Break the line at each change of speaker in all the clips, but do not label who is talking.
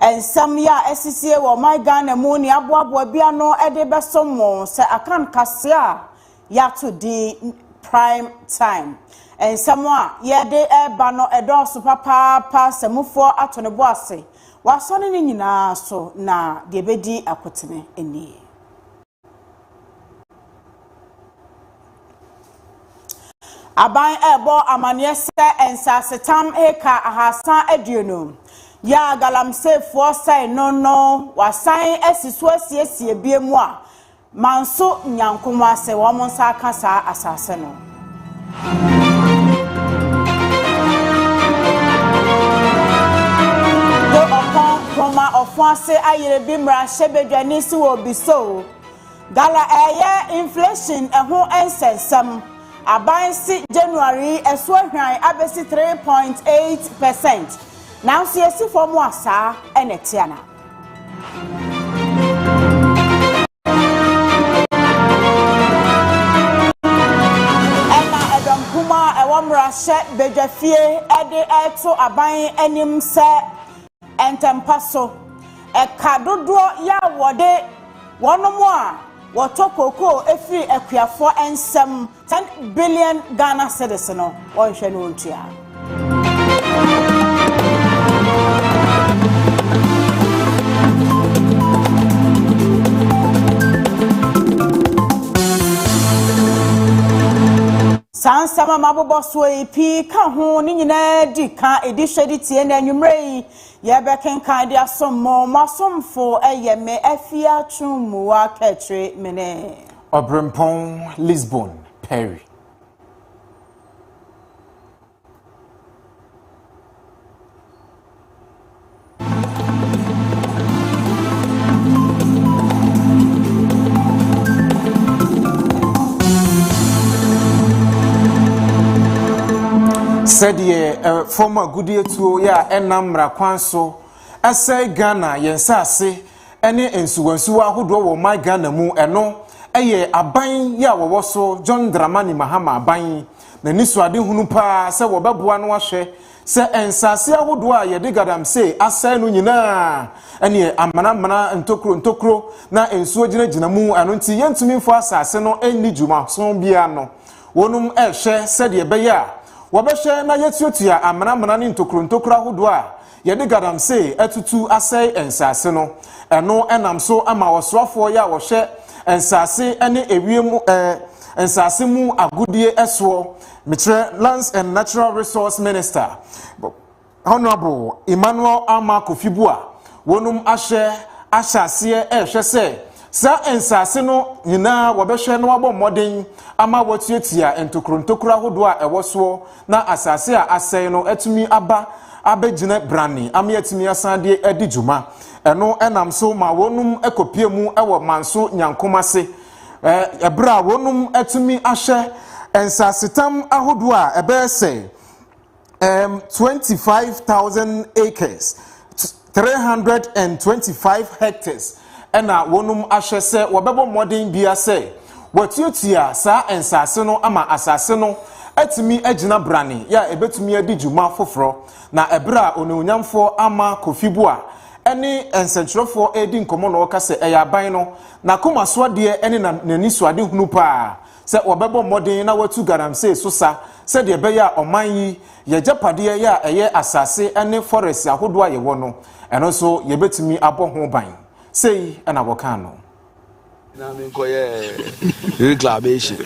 Nsɛm yi a asisie wɔ ɔman Ghana mu ne aboaboa bi ano de bɛsom mo sɛ Akan kaseɛ a yɛato din Prime Time. Nsɛm a yɛde reba no dɔɔso papaapa, sɛ mufoɔ ato ne bo ase, wɔasɔne ne nyinaa so, na deɛ ɛbɛdi akotene nie. Aban rebɔ amanneɛ sɛ nsasetam eka ahaasa aduonu yɛ a galamseyfoɔ sɛe no no wɔasan asi so asiesie biam a Manso Nyanko Moase wɔn nsa aka saa asaase no. Go ɔpɔn homa ɔfo ase ayere bi mmarahyɛ badwa ni si wɔ obi so Gala ɛɛyɛ inflation ɛho ɛnsɛnsɛm Aban se January yi ɛso ahwan abɛsi 3.8 percent Nanso yɛsi fɔm a saa ɛna ɛteana. Ɛna ɛdɔm kumaa a ɛwɔ mmarahyɛ badwafie de reto aban anim sɛ ntɛmpa so, ɛka dodoɔ yɛ a wɔde wɔnom a wɔtɔ kookoo firi akuafoɔ nsam Ten billion Ghana cedis no ɔnhwɛ no ɔntua. saa nsɛm a mabobɔ soɔ yi pii ka ho ne nyinaa di ka ɛdi hwɛ de tie na anwummerɛ yi yɛbɛkenkan de asom mo mo asomfo ɛyɛ me afia twomua kɛkyere mene Ɔberempɔn
Lisbon Perry. sɛdeɛ eh, fam agudeɛtuo yɛ a ɛnam mmara kwan so ɛsɛe ghana yɛn nsaase ne nsuwansuwa ahodoɔ wɔ ɔman Ghana mu, ɛno yɛ aban yi a wɔwɔ so John Dramani Mahama aban yi n'anisoadehunu paa sɛ wɔbɛboa no ahwɛ sɛ nsaase ahodoɔ a yɛde galamsey asɛe no nyinaa ɛneɛ amanamana ntokuro ntokuro na nsuo gyinagyina mu ɛno nti yɛntumi mfa asaase no nni dwumaso biara no wɔnom ɛhwɛ sɛdeɛ ɛbɛyɛ a wɔbɛhwɛ na yɛtuatua amanamana ne ntokuro ntokuro ahodoɔ a Yɛde galamsey atutu asɛe nsase no. Ɛno nam so ma ɔsoafoɔ yɛ a wɔhwɛ nsase ne ewiem eh, nsase mu agodie soɔ. Mekyerɛ Lands and Natural Resource Minister, Honourable Emmanuel Armah Kofi Bua, wɔnom ahwɛ ahyɛ aseɛ ɛrehwɛ sɛ saa nsase no nyinaa wɔbɛhwɛ na wɔabɔ mmɔden ama wɔatuatua ntokuro ntokuro ahodoɔ a ɛwɔ soɔ na asase a asɛe no atumi aba abɛgyina brane ama yɛatumi asan de adi dwuma. Ɛno nam so ma wɔnom kɔpie mu wɔ Manso Nyankom ase, ɛberɛ a wɔnom atumi ahwɛ nsasetam ahodoɔ a ɛbɛyɛ sɛ 25,000 acres, three hundred and twenty five hectares na wɔnom ahwɛ sɛ wɔbɛbɔ mmɔden bia sɛ wɔatuatua saa nsaase no ama asaase no atumi agyina brane yɛ a ɛbɛtumi adi dwuma foforɔ na ɛberɛ a onuonyamfoɔ ama kofi boa ɛne nsɛnkyerɛfoɔ ɛredi nkɔmmɔ na ɔka sɛ ɛyɛ aban no n'akomasoadeɛ ɛne n'anisoadehunu paa sɛ wɔbɛbɔ mmɔden na wɔatu galamsey so sa sɛdeɛ ɛbɛyɛ a ɔman yi, y'agyapadeɛ yɛ a ɛyɛ asase ne forest ahodoɔ a yɛwɔ no, ɛno nso yɛbɛtumi abɔ ho ban. Sei na wɔkaa no. na me
nkɔ yɛ reclamation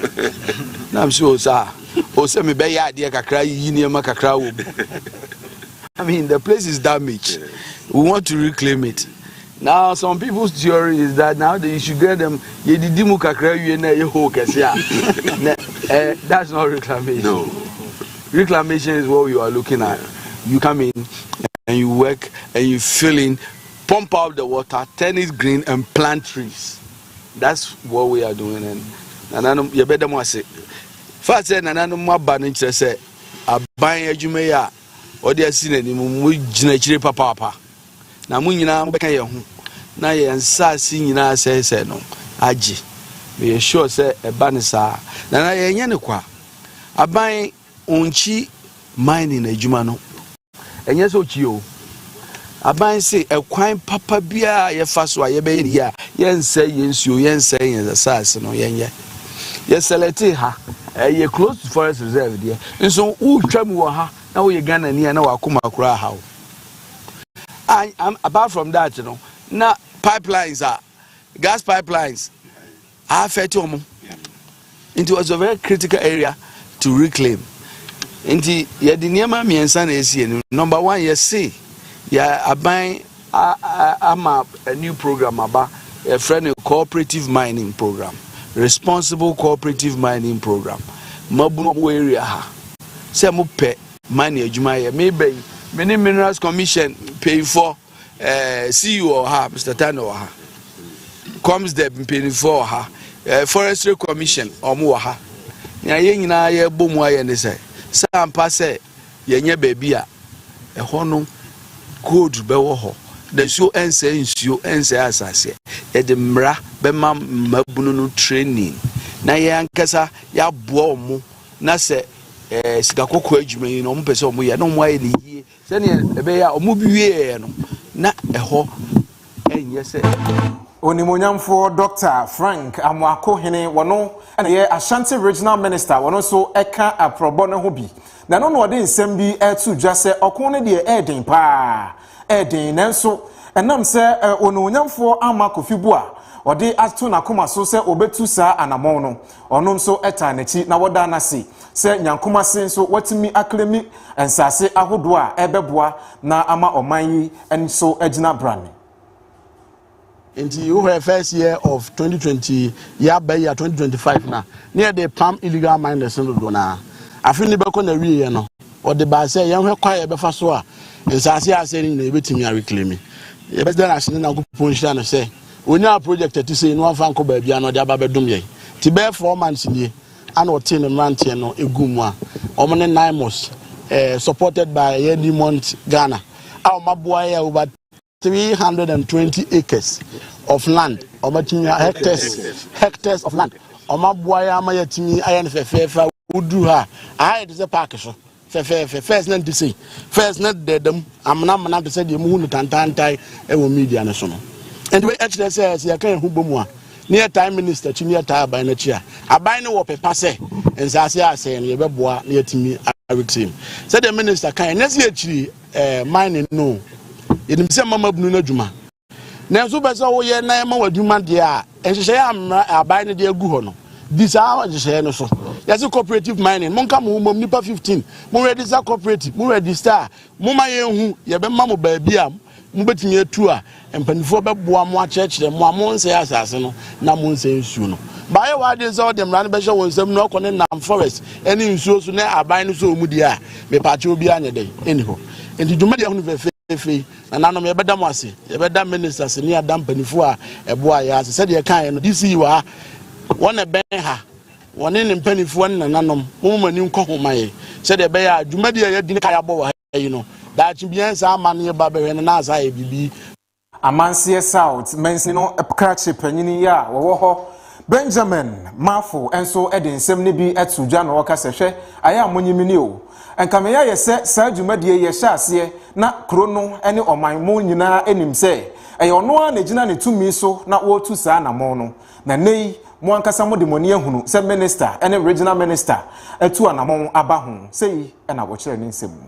na me so sa o sɛ me bɛyɛ adeɛ kakra yiyi nneɛma kakra wɔ mu I mean the place is damaged we want to reclaim it Now some people's theory is that now they should get them yedidi mu kakra wie na ɛyɛ hole kɛse a na eh, that's not reclamation. No. Reclamation is what you are looking at. You come in and you work and you fill in, pump out the water, turn it green and plant trees. That's what we are doing and nananom yɛbɛda mu ase. Fa sɛ nananom aba no kyerɛ sɛ aban adwuma yi a ɔde asi n'anim mu gyina akyire papaapa. Na mo nyinaa mobɛka yɛn ho na yɛn nsaase nyinaa asɛesɛe no agye. Meyɛ sure sɛ ɛba no saa. Na na yɛnyɛ no kwa. Aban onkyi mining adwuma no. Ɛnyɛ sɛ okyi oo. Aban se ɛkwan papa biara a yɛfa so a yɛbɛyɛ no yie a yɛnsɛe yɛn nsuo, yɛnsɛe yɛn asaase no, yɛnyɛ. Yɛsɛlɛtee ha. Ɛyɛ close to forest reserve deɛ. Nso wotwa mu wɔ ha na woyɛ Ghanani a na w'akoma koraa ha wo. And, and apart from that, you know, now pipelines are gas pipelines are affected. Um, it was a very critical area to reclaim. Nti yɛde nneɛma mmiɛnsa na ɛsi anim. Number one, yɛse yɛ aban ama a new program aba yɛfrɛ no cooperative mining program responsible cooperative mining program mabunu wɔ area ha sɛ mopɛ ma ne adwuma yɛ. Me bɛ yi, me ne Minerals Commission mpanyinfoɔ, eh, CEO wɔ ha, Mr. Tane wɔ ha, Comsdep mpanyinfoɔ wɔ ha, eh, Forestry Commission wɔn wɔ ha. Nea yɛn nyinaa yɛbɔ mu ayɛ ne sɛ, sɛ ampa sɛ yɛnyɛ baabi a ɛhɔ no cold bɛwɔ hɔ na nsuo ɛnsɛe nsuo ɛnsɛe asaseɛ yɛde mmara bɛma mmabunu no training na yɛn ankasa yɛaboa wɔn na sɛ ɛɛ eh, sika kɔkɔɔ adwuma yi na wɔn pɛ sɛ wɔn yɛ na wɔn ayɛ ne yie sɛnea ɛbɛyɛ a wɔn bi wieɛ no na ɛhɔ ɛnyɛ sɛ. onimonyamfoɔ
dr frank amoako hene wɔn na yɛ ashanti regional minister wɔn nso ɛka aprɔbɔ no ho bi na ɛno na ɔde nsɛm bi ɛreto dwa sɛ ɔko no deɛ ɛreden paa ɛreden nanso ɛnam sɛ eh, onimonyamfoɔ ama kofi bu a ɔde ato n'akoma so sɛ ɔbɛtu saa anamɔn no Ɔno nso taa n'akyi na wɔdaa no ase sɛ Nyankom ase nso watumi aklemi nsase ahodoɔ a ɛrebɛboa na ama ɔman yi nso agyina brane.
Nti wohwɛ first year of twenty twenty yɛaba yi a twenty twenty five no a ne yɛde pam illegal miners no dodoɔ no ara afe no bɛkɔ n'awieeɛ no wɔde baa sɛ yɛnhwɛ kwan a yɛbɛfa so a nsaase a asɛe no nyinaa yɛbɛtumi areclaimi yɛbɛda no ase ne Nyankopɔn nhyira no sɛ Onyaa project a ɛte sei na wamfa ankɔ baabiara na ɔde aba abɛdom yɛn. Nti bɛyɛ four months nie ana ɔtee ne mmeranteɛ no guu mu a wɔn ne Nymos eh, supported by ɛyɛ Newmont Ghana a wɔn aboa yɛ over 320 acres of land wɔn atumi hectares hectares of land wɔn aboa yɛ ama yɛatumi ayɛ no fɛfɛɛfɛ a woduru ha a aha yɛ te sɛ park so fɛfɛɛfɛ first na nte sei first na dɛdɛm amena amena te sɛ deɛ muhu no tantantae ɛwɔ media no so no nti wei ɛkyerɛ sɛ sɛ yɛka yɛn ho bɔ mu a ne yɛtae minister akyi ne yɛtae aban no akyi a aban no wɔ pepa sɛ nsaase a asɛe no yɛbɛboa na yɛatumi aretrim sɛdeɛ minister kan ɛnyɛ sɛ yɛkyiri ɛɛ eh, mine no yɛnim sɛ mama bunu no adwuma Nanso wopɛ sɛ woyɛ na ɛma w'adwuma deɛ a, nhyehyɛeɛ a mmara aban no de agu hɔ no, di saa nhyehyɛeɛ no so. Yɛse cooperative mining, monka mo ho mmom nnipa 15, mo register cooperative, mo register a, moma yɛnhu, yɛbɛma mo baabi a mobɛtumi atu a mpanimfoɔ bɛboa mo akyerɛkyerɛ mo a monsɛe asase no na monsɛe nsuo no. Baayɛ w'adwene sɛ wode mmara no bɛhyɛ wɔn nsam na ɔkɔ ne nam forest ne nsuo so na aban no sɛ wɔn mu deɛ a, mepaakyɛ obiara nyɛ dɛn ɛni hɔ. Nti dwumadie ahunu fɛfɛɛfɛ yi, Nananom, yɛbɛda mo ase. Yɛbɛda ministers ne ada mpanimfoɔ a ɛboaa yɛn ase. Sɛdeɛ yɛkaeɛ no, DC wɔ ha, wɔn na ɛbɛn ha, wɔne ne mpanimfoɔ ne nananom. Momma mo ani nkɔ ho mma yɛn sɛdeɛ ɛbɛyɛ a dwumadi a yɛadi ne kae abɔ wɔ ha yi no, daakye bi yɛn nsa amma no yɛba bɛhwɛ no na ansa ayɛ biribi. Amanseɛ
South mansini no krakye panyin yi a wɔwɔ hɔ Benjamin Marfo nso de nsɛm no bi to dwa na ɔka sɛ, Hwɛ, ayɛ a monye me ni o! Anka me yɛ ayɛ sɛ saa dwumadi yi yɛhyɛ aseɛ na kuro no ne ɔman mu nyinaa nim sɛ ɛyɛ ɔno ara na ɛgyina ne tumi so na wɔretu saa anammɔn no. Na nnɛ yi, mo ankasa mode mo ani ahunu sɛ Minister ne Regional Minister atu anammɔn aba ho. Sei na wɔkyerɛɛ ne nsɛm mu.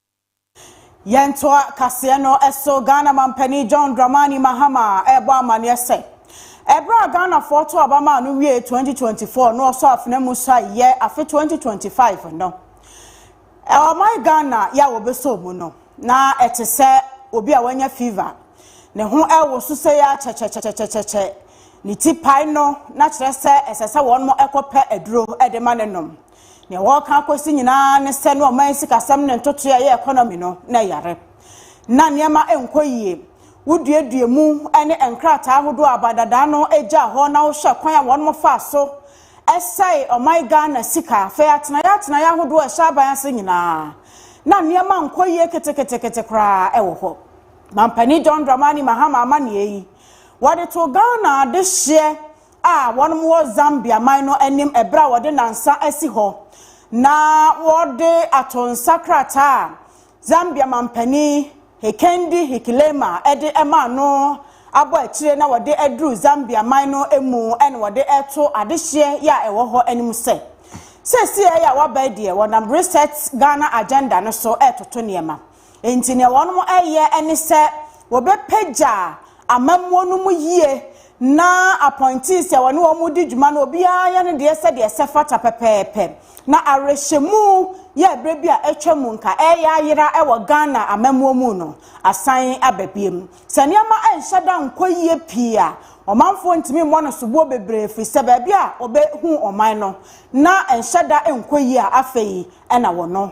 Yɛntoa kaseɛ no so Ghana Mampanin John Dramani Mahama rebɔ amaneɛ sɛ, ɛberɛ a Ghanafoɔ too aba maa no wiee 2024 na ɔsɔ afena mu sae yɛ afe 2025 no, ɔman Ghana yɛ a wɔbɛsɔɔ mu no, na ɛte sɛ obi a wanya fever. Ne ho rewoso sɛ yɛ ara kyɛkyɛkyɛkyɛkyɛkyɛ, ne ti pae no na kyerɛ sɛ ɛsɛ sɛ wɔn kɔpɛ aduro de ma no nom. Nea wɔreka akosi nyinaa ne sɛ ne ɔman sikasɛm ne ntotoe a ɛyɛ economy no na ɛyare. Ná nneɛma nkɔ yie. Woduadua mu ne nkrataa ahodoɔ a abadadaa no gyaa hɔ na wohwɛ kwan a wɔnom faa so sɛe ɔman Ghana sika fɛ atenaeɛ atenaeɛ ahodoɔ a ɛhyɛ aban ase nyinaa na nneɛma nkɔ yie keteketekete koraa wɔ hɔ. Mampanin John Dramani Mahama amanneɛ yi wɔde too Ghana adehyeɛ a wɔwɔ Zambia man no anim ɛberɛ a wɔde nansa asi hɔ na wɔde ato nsa krataa a Zambia manpanin Hikendi Hichilema de maa no abɔ akyire na wɔde aduru Zambia man no mu na wɔde reto adehyeɛ yɛ a ɛwɔ hɔ anim sɛ seesei a wɔaba deɛ wɔnam Reset Ghana Agenda no so retoto nneɛma. Enti nea wɔreyɛ ne sɛ wɔbɛpagya amammuo no mu yie na appointees a wɔne wɔn di dwuma no obiara yɛ ne deɛ sɛdeɛ ɛsɛ fata pɛpɛɛpɛ. Na awerɛhyɛmu yɛ berɛ bi a atwa mu nka ɛreyɛ ayera wɔ Ghana amammuo mu no asan aba biom. Sɛ nneɛma nhyɛ da nkɔ yie pii a, ɔmanfoɔ ntumi mmɔ no soboɔ bebree ɛfiri sɛ baabi a wɔbɛhu ɔman no na nhyɛ da nkɔ yie a afei na wɔno.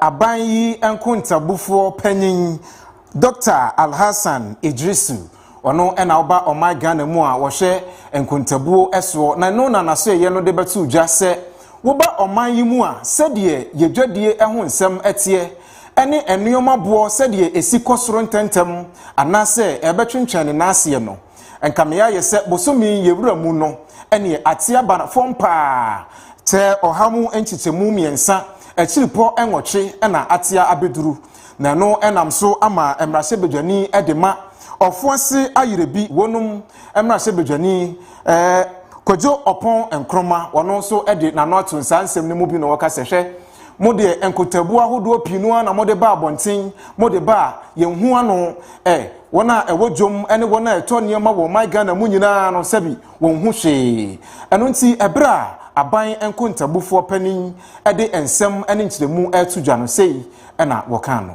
Aban yi
nkontabufoɔ panyin Doctor Alhassan Idrisu, ɔno na ɔba ɔman Ghana mu a wɔhwɛ nkontabuo soɔ na ɛno na n'asoɛeɛ no de bɛto dwa sɛ woba ɔman yi mu a sɛdeɛ yɛdwadie ho nsɛm teɛ ɛne nnoɔma boɔ sɛdeɛ ɛsi kɔ soro ntɛntɛm anaasɛ ɛbɛtwentwɛn ne nan aseɛ no. Nka me ayɛ sɛ bosome yɛwura mu no ɛneɛ ate aba fam paa kyɛ ɔha mu nkyekyɛmu mmiɛnsa akyiripɔ nwɔtwe na atea abɛduru na ɛno nam so ama mmarahyɛbadwani de ma ɔfo ase ayerɛ bi wɔnom mmarahyɛbadwani eh, Kwadwo Ɔpɔn Nkrumah ɔno nso de n'ano ato nsaa nsɛm no mu bi na ɔka sɛ hwɛ Mo deɛ nkotaabu ahodoɔ pii no ara na mode ba abɔnten, mode ba a, yɛnhu ano ɛ, wɔn a ɛwɔ dwom ne wɔn a ɛtɔ nneɛma wɔ ɔman Ghana mu nyinaa no sɛbi wɔnhu hwee. Ɛno nti ɛberɛ a aban nkontabufoɔ panin de nsɛm ne nkyerɛmu reto dwa no sei na wɔkaa no.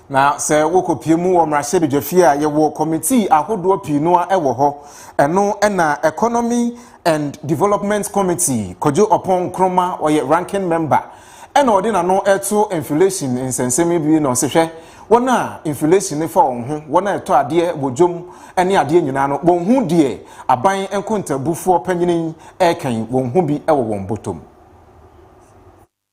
Na
sɛ wokɔpie mu wɔ mmarahyɛbadwafie a, yɛwɔ kɔmitii ahodoɔ pii noa wɔ hɔ. Ɛno na Economy and Development Committee, Kwadwo Ɔpɔn Nkrumah, ɔyɛ ranking member, ɛna ɔde n'ano to inflation nsɛnsɛm yi bi na ɔse hwɛ, wɔn a inflation no fa wɔn ho, wɔn a ɛtɔ adeɛ wɔ dwom ne adeɛ nyinaa no, wɔn ho deɛ aban nkontabufoɔ panyini yi ɛreka yi, wɔn ho bi wɔ wɔn bɔtɔ mu.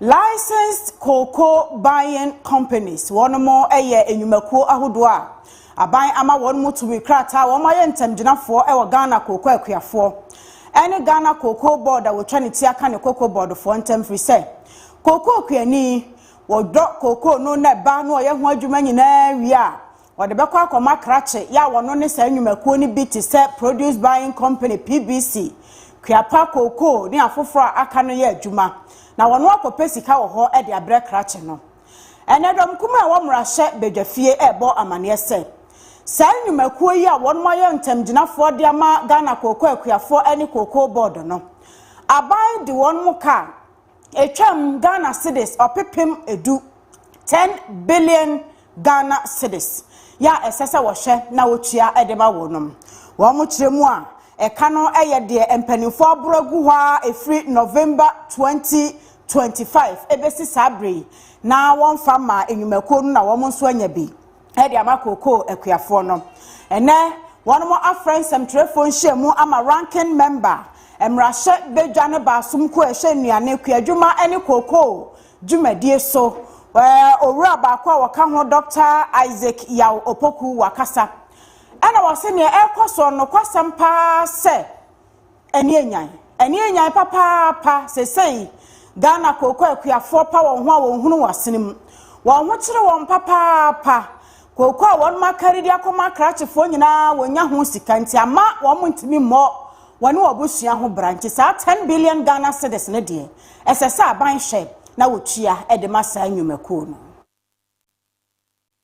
Licensed Cocoa Buying Companies, Wɔnom yɛ nnwumakuo ahodoɔ a aban ama wɔnom tumi krataa a wɔn ayɛ ntamgyinafoɔ wɔ Ghana Cocoa akuafoɔ ɛne Ghana Cocoa Board a wɔtwa ne ti aka ne Cocoa Board foɔ ntam firi sɛ Cocoa kuani wɔdɔ Cocoa no na ɛba na ɔyɛ ho adwuma nyinaa wie a Wɔde bɛkɔ akɔma krakye yɛ a wɔno ne saa nnwumakuo no bi te sɛ Produce Buying Company, PBC, Kuapa, Cocoa ne afoforɔ a aka no yɛ adwuma na wɔno akɔpɛ sika wɔ hɔ de abrɛ krakye no. Ɛnɛ dɔm kumaa ɛwɔ mmarahyɛ badwafie ɛrebɔ amaneɛ sɛ saa nnwumakuo yi a wɔnom ayɛ ntamgyinafoɔ de ama Ghana Cocoa Akuafoɔ ne Cocoa Board no, aban de wɔnom kaa Ɛtwam Ghana cedis ɔpepem du, ten billion Ghana cedis, yɛ a ɛsɛ sɛ wɔhwɛ na wɔtua de ma wɔnom. Wɔn kyerɛ mu a ɛka no yɛ deɛ mpaninfoɔ aboro agu hɔ ara ɛfiri November twenty twenty five ɛbɛsi saa berɛ yi na wɔmfa mmaa nnwumakuo no na wɔn nso anya bi. ɛde ama kookoo akuafoɔ no. Ɛnɛ, wɔn afrɛ nsɛmtwerɛfoɔ nhyiamu ama Ranking Member, mmarahyɛ badwa ne baasom kuo a ɛhwɛ nnuane, kuadwuma ne kookoo dwumadie so. Ɛɛ, owura baako a wɔka ho Dɔkta Isaac Yaw Opoku wakasa. Ɛna wɔse neɛ ɛrekɔ soɔ no, nokwasɛm paa sɛ, Ɛne anyan. Ɛne anyan papaapa. Sesei, Ghana kooko akuafoɔ pa wɔn ho a wɔnhunu wɔn asene mu. Wɔn ho kyere wɔn papaapa. Kooko a wɔnom akari de akɔma akrakyefoɔ nyinaa, wɔnnya ho sika nti amma wɔntumi mmɔ wɔne wɔn abusua ho bra. Nti saa ten billion Ghana cedis no deɛ, ɛsɛ sɛ aban hwɛ na wɔtua de ma saa nnwumakuo no.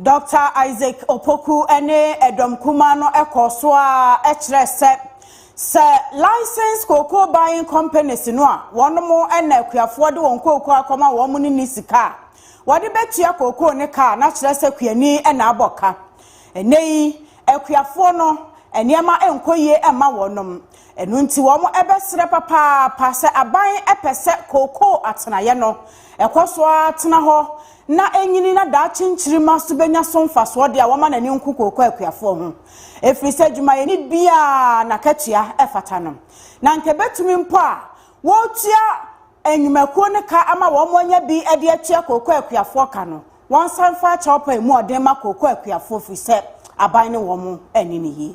Dɔkta
Isaac Opoku ne ɛdɔm kumaa no kɔɔ so ara kyerɛɛ sɛ, sɛ Licensed Cocoa Buying Companies no a wɔnom na akuafoɔ de wɔn kooko akɔma wɔn no nni sika a wɔde bɛtua kookoo no ka a, na kyerɛ sɛ kuani na abɔ ka. Ɛnnɛ yi, akuafoɔ no, nneɛma nkɔ yie mma wɔnom. Ɛno nti wɔbɛserɛ papaapa sɛ aban pɛ sɛ kookoo atenaeɛ no, ɛkɔ so ara tena hɔ na ɛnyini na daakye nkyirimma so bɛnya so mfasoɔ deɛ a wɔmma n'ani nku kookoo akuafoɔ ho. Ɛfiri sɛ adwumayɛni biara n'akatua fata no. Na anka ɛbɛtumi mpo a wɔretua nnwumakuo no ka ama wɔn anya bi de atua kookoo akuafoɔ ka no, wɔnsa mfa akyɛwpa yi mu ɔden ma kookoo akuafoɔ firi sɛ aban ne wɔn anni no yie.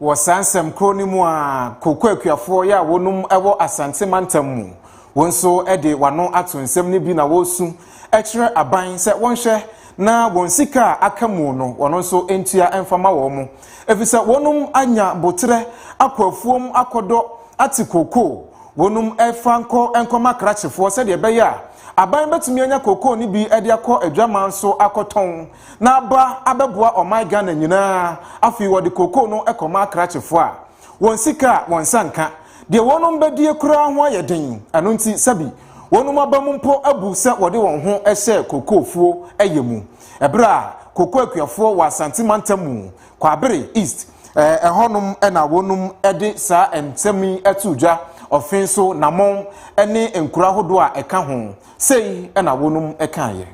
Wɔ saa nsɛm
koro no mu a kooko akuafoɔ yɛ a wɔnom wɔ Asante mantam mu. Wɔn nso de wano ato nsɛm no bi na wɔresu kyerɛ aban sɛ wɔnhwɛ na wɔn sika a aka mu no wɔn nso ntua mfa ma wɔn mo. Efisɛ wɔnom anya boterɛ akɔ afuom akɔdɔ ate kooko. Wɔnom fa nkɔ nkɔma krakyefoɔ sɛdeɛ ɛbɛyɛ a aban bɛtumi anya kooko no bi de akɔ adwaman so akɔtɔn. na aba abɛboa ɔman Ghana nyinaa, afei wɔde cocoa no kɔma akrakyefo a wɔn sika a wɔn nsa nka deɛ wɔnom bɛdie koraa ho ayɛ den, ɛno nti sɛbi wɔnom abam mpo abu sɛ wɔde wɔn ho hyɛ cocoa fuo yɛ mu, ɛberɛ a cocoa akuafoɔ wɔ Asante mantam mu, Kwabere East, ɛhɔnom na wɔnom de saa nsɛm yi too dwa, Ɔfen so, Namɔn ne nkuro ahodoɔ a ɛka ho, sei na wɔnom kaeɛ.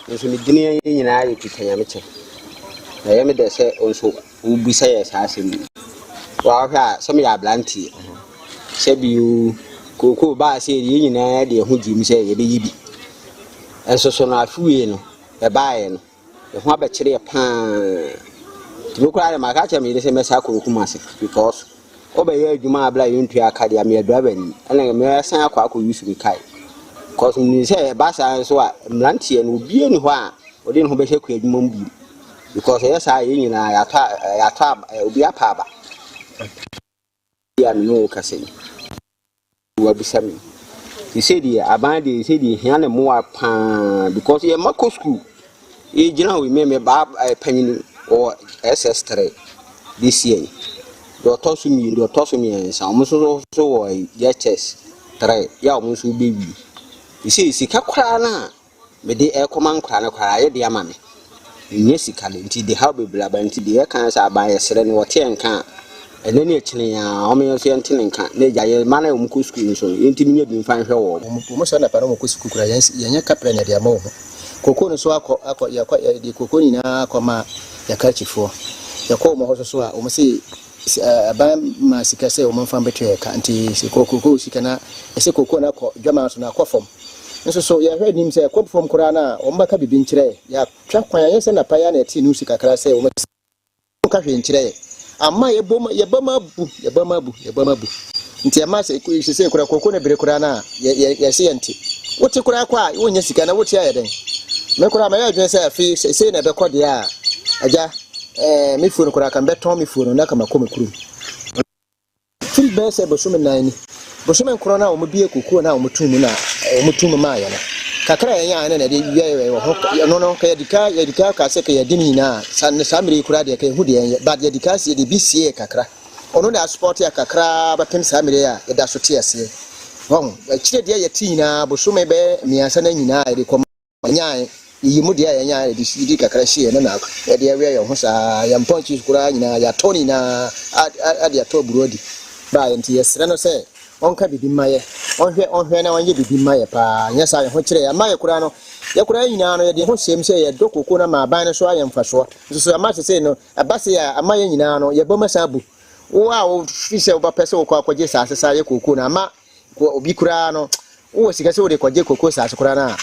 Nanso ne din nyinaa yɛ Peter Nyamekyɛ. Na ɛyɛ me dɛ sɛ wo nso wobisa yɛ saa asɛm yi. Woahwɛ a sɛ meyɛ aberanteɛ sɛ bio kookoo baa sɛ yɛn nyinaa de ɛho gyim sɛ yɛbɛyɛ bi. Nso so no afe wei no ɛbaeɛ no ɛho abɛkyerɛ paa. Tumi koraa de maka kyerɛ me yere sɛ mɛsa akɔ ɔkum ase because Wobɛyɛ adwuma a bla yɛntua ka deɛ a meyɛ driver ni ɛna mɛsan akɔ akɔ use me car cause menim sɛ ɛba saa nso a mmeranteɛ no obiara ni hɔ a ɔde ne ho bɛhyɛ kua adwuma mu bio because ɛyɛ saa yɛn nyinaa yɛatɔ a yɛatɔ aba obi apa aba yɛ a mene wo kasa yi Wabisa me sese deɛ aban deɛ sese deɛ hia ne mmoa paa because yɛ mma kɔ sukuu yɛgyina hɔ mmɛmɛ baa eh, panyin wɔ ss3 this year deɛ ɔtɔ so mmienu deɛ ɔtɔ so mmiɛnsa wɔn nso so wɔ yɛkyɛs 3 yɛ a wɔn nso bɛwi sese sika koraa no a Mede ɛrekɔma nkwadaa no koraa yɛde ama me. Mennya sika de nti de haw bebree aba nti de yɛka sɛ aban yɛsrɛ no wɔte yɛn nka a ɛnɛ ne akyire yi ara wɔn yɛn nso yɛnte ne nka na agya yɛn mma no a wɔn kɔ sukuu nso no yɛntumi nya bi mfa nhwɛ wɔn. Wɔn sɛ anapa na wɔn kɔ sukuu koraa yɛnyɛ kapra na yɛde ama wɔn. Kokoo no so akɔ akɔ yɛkɔ yɛde kokoo nyinaa akɔ ma yɛka akyifoɔ yɛkɔ wɔn hɔ so so a wɔn se aban ma sika sɛ wɔn mfa mbɛtua yɛn ka nti sɛ kokoo sika na ɛsɛ kokoo no akɔ dwaman so na akɔ fam. Nso so yɛhwɛ anim sɛ ɛkɔ fam koraa no a, wɔbɛka biribi nkyerɛ yɛn. Yɛatwa kwan, ɛnyɛ sɛ napa yi ara na yɛtee nuusi kakra sɛ wɔasi yɛn abo. Wɔnka hwee nkyerɛ yɛn. Ama yɛbom, yɛbam abu, yɛbam abu, yɛbam abu. Nti ɛma sɛ, seesei koraa, kooko no bere koraa no a, yɛ, yɛ, yɛse yɛnte. Wote koraa kɔ a, wonnya sika na wote a, ɛyɛ dɛn? Me koraa, mayɛ adwene sɛ afei, sɛ sei na ɛbɛkɔ deɛ a, Agya, ɛɛ, me fuo no koraa, ka mebɛtɔn me fuo no na ka makɔ me kurom. Firi bɛyɛ sɛ bosome nan ni, bosome nkron no a wɔbuee kokoɔ no a wɔtoo mu no a wɔtoo mu maaeɛ no, kakra a yɛnyaeɛ no na yɛde wɛwɛe wɔ ho, ɛno no, nka yɛde ka, yɛde ka kaa sɛ nka yɛadi ne nyinaa a, saa, saa mmerɛ yi koraa deɛ, nka yɛhu deɛ yɛnyɛ, but yɛde ka sie, yɛde bi sieeɛ kakra. Ɔno na yɛasupɔɔte yɛ kakra ara bɛpem saa mmerɛ yi a yɛda so te aseɛ. Wahu? Akyire deɛ yɛte nyinaa, bosome bɛyɛ mmiɛnsa no nyinaa a yɛde kɔma. Nyae, yiyi mu deɛ a yɛnyae a yɛde di kakra si yɛ no na yɛde awia yɛn ho saa, yɛn mpɔnkye koraa nyinaa yɛatɔ ne nyinaa de atɔ aburoo adi baa yɛn nti yɛsrɛ no sɛ ɔnka biribi mma yɛ, ɔnhwɛ ɔnhwɛ na ɔnyɛ biribi mma yɛ paa, anyɛ saa a yɛn ho kyerɛ yɛn, ama yɛ koraa no yɛ koraa nyinaa no yɛde yɛn ho hyɛm sɛ yɛdɔ kooko no ama aban no so ayɛ mfasoɔ nso so, ama sesei no ɛba sei a ama yɛn nyinaa no yɛbɔm asan abu wo a wofiri sɛ wobɛpɛ sɛ wokɔ akɔgye saa sesa yɛ kooko no ama Wɔ obi koraa no, wowɔ sika sɛ wode kɔgye koko asase koraa no a,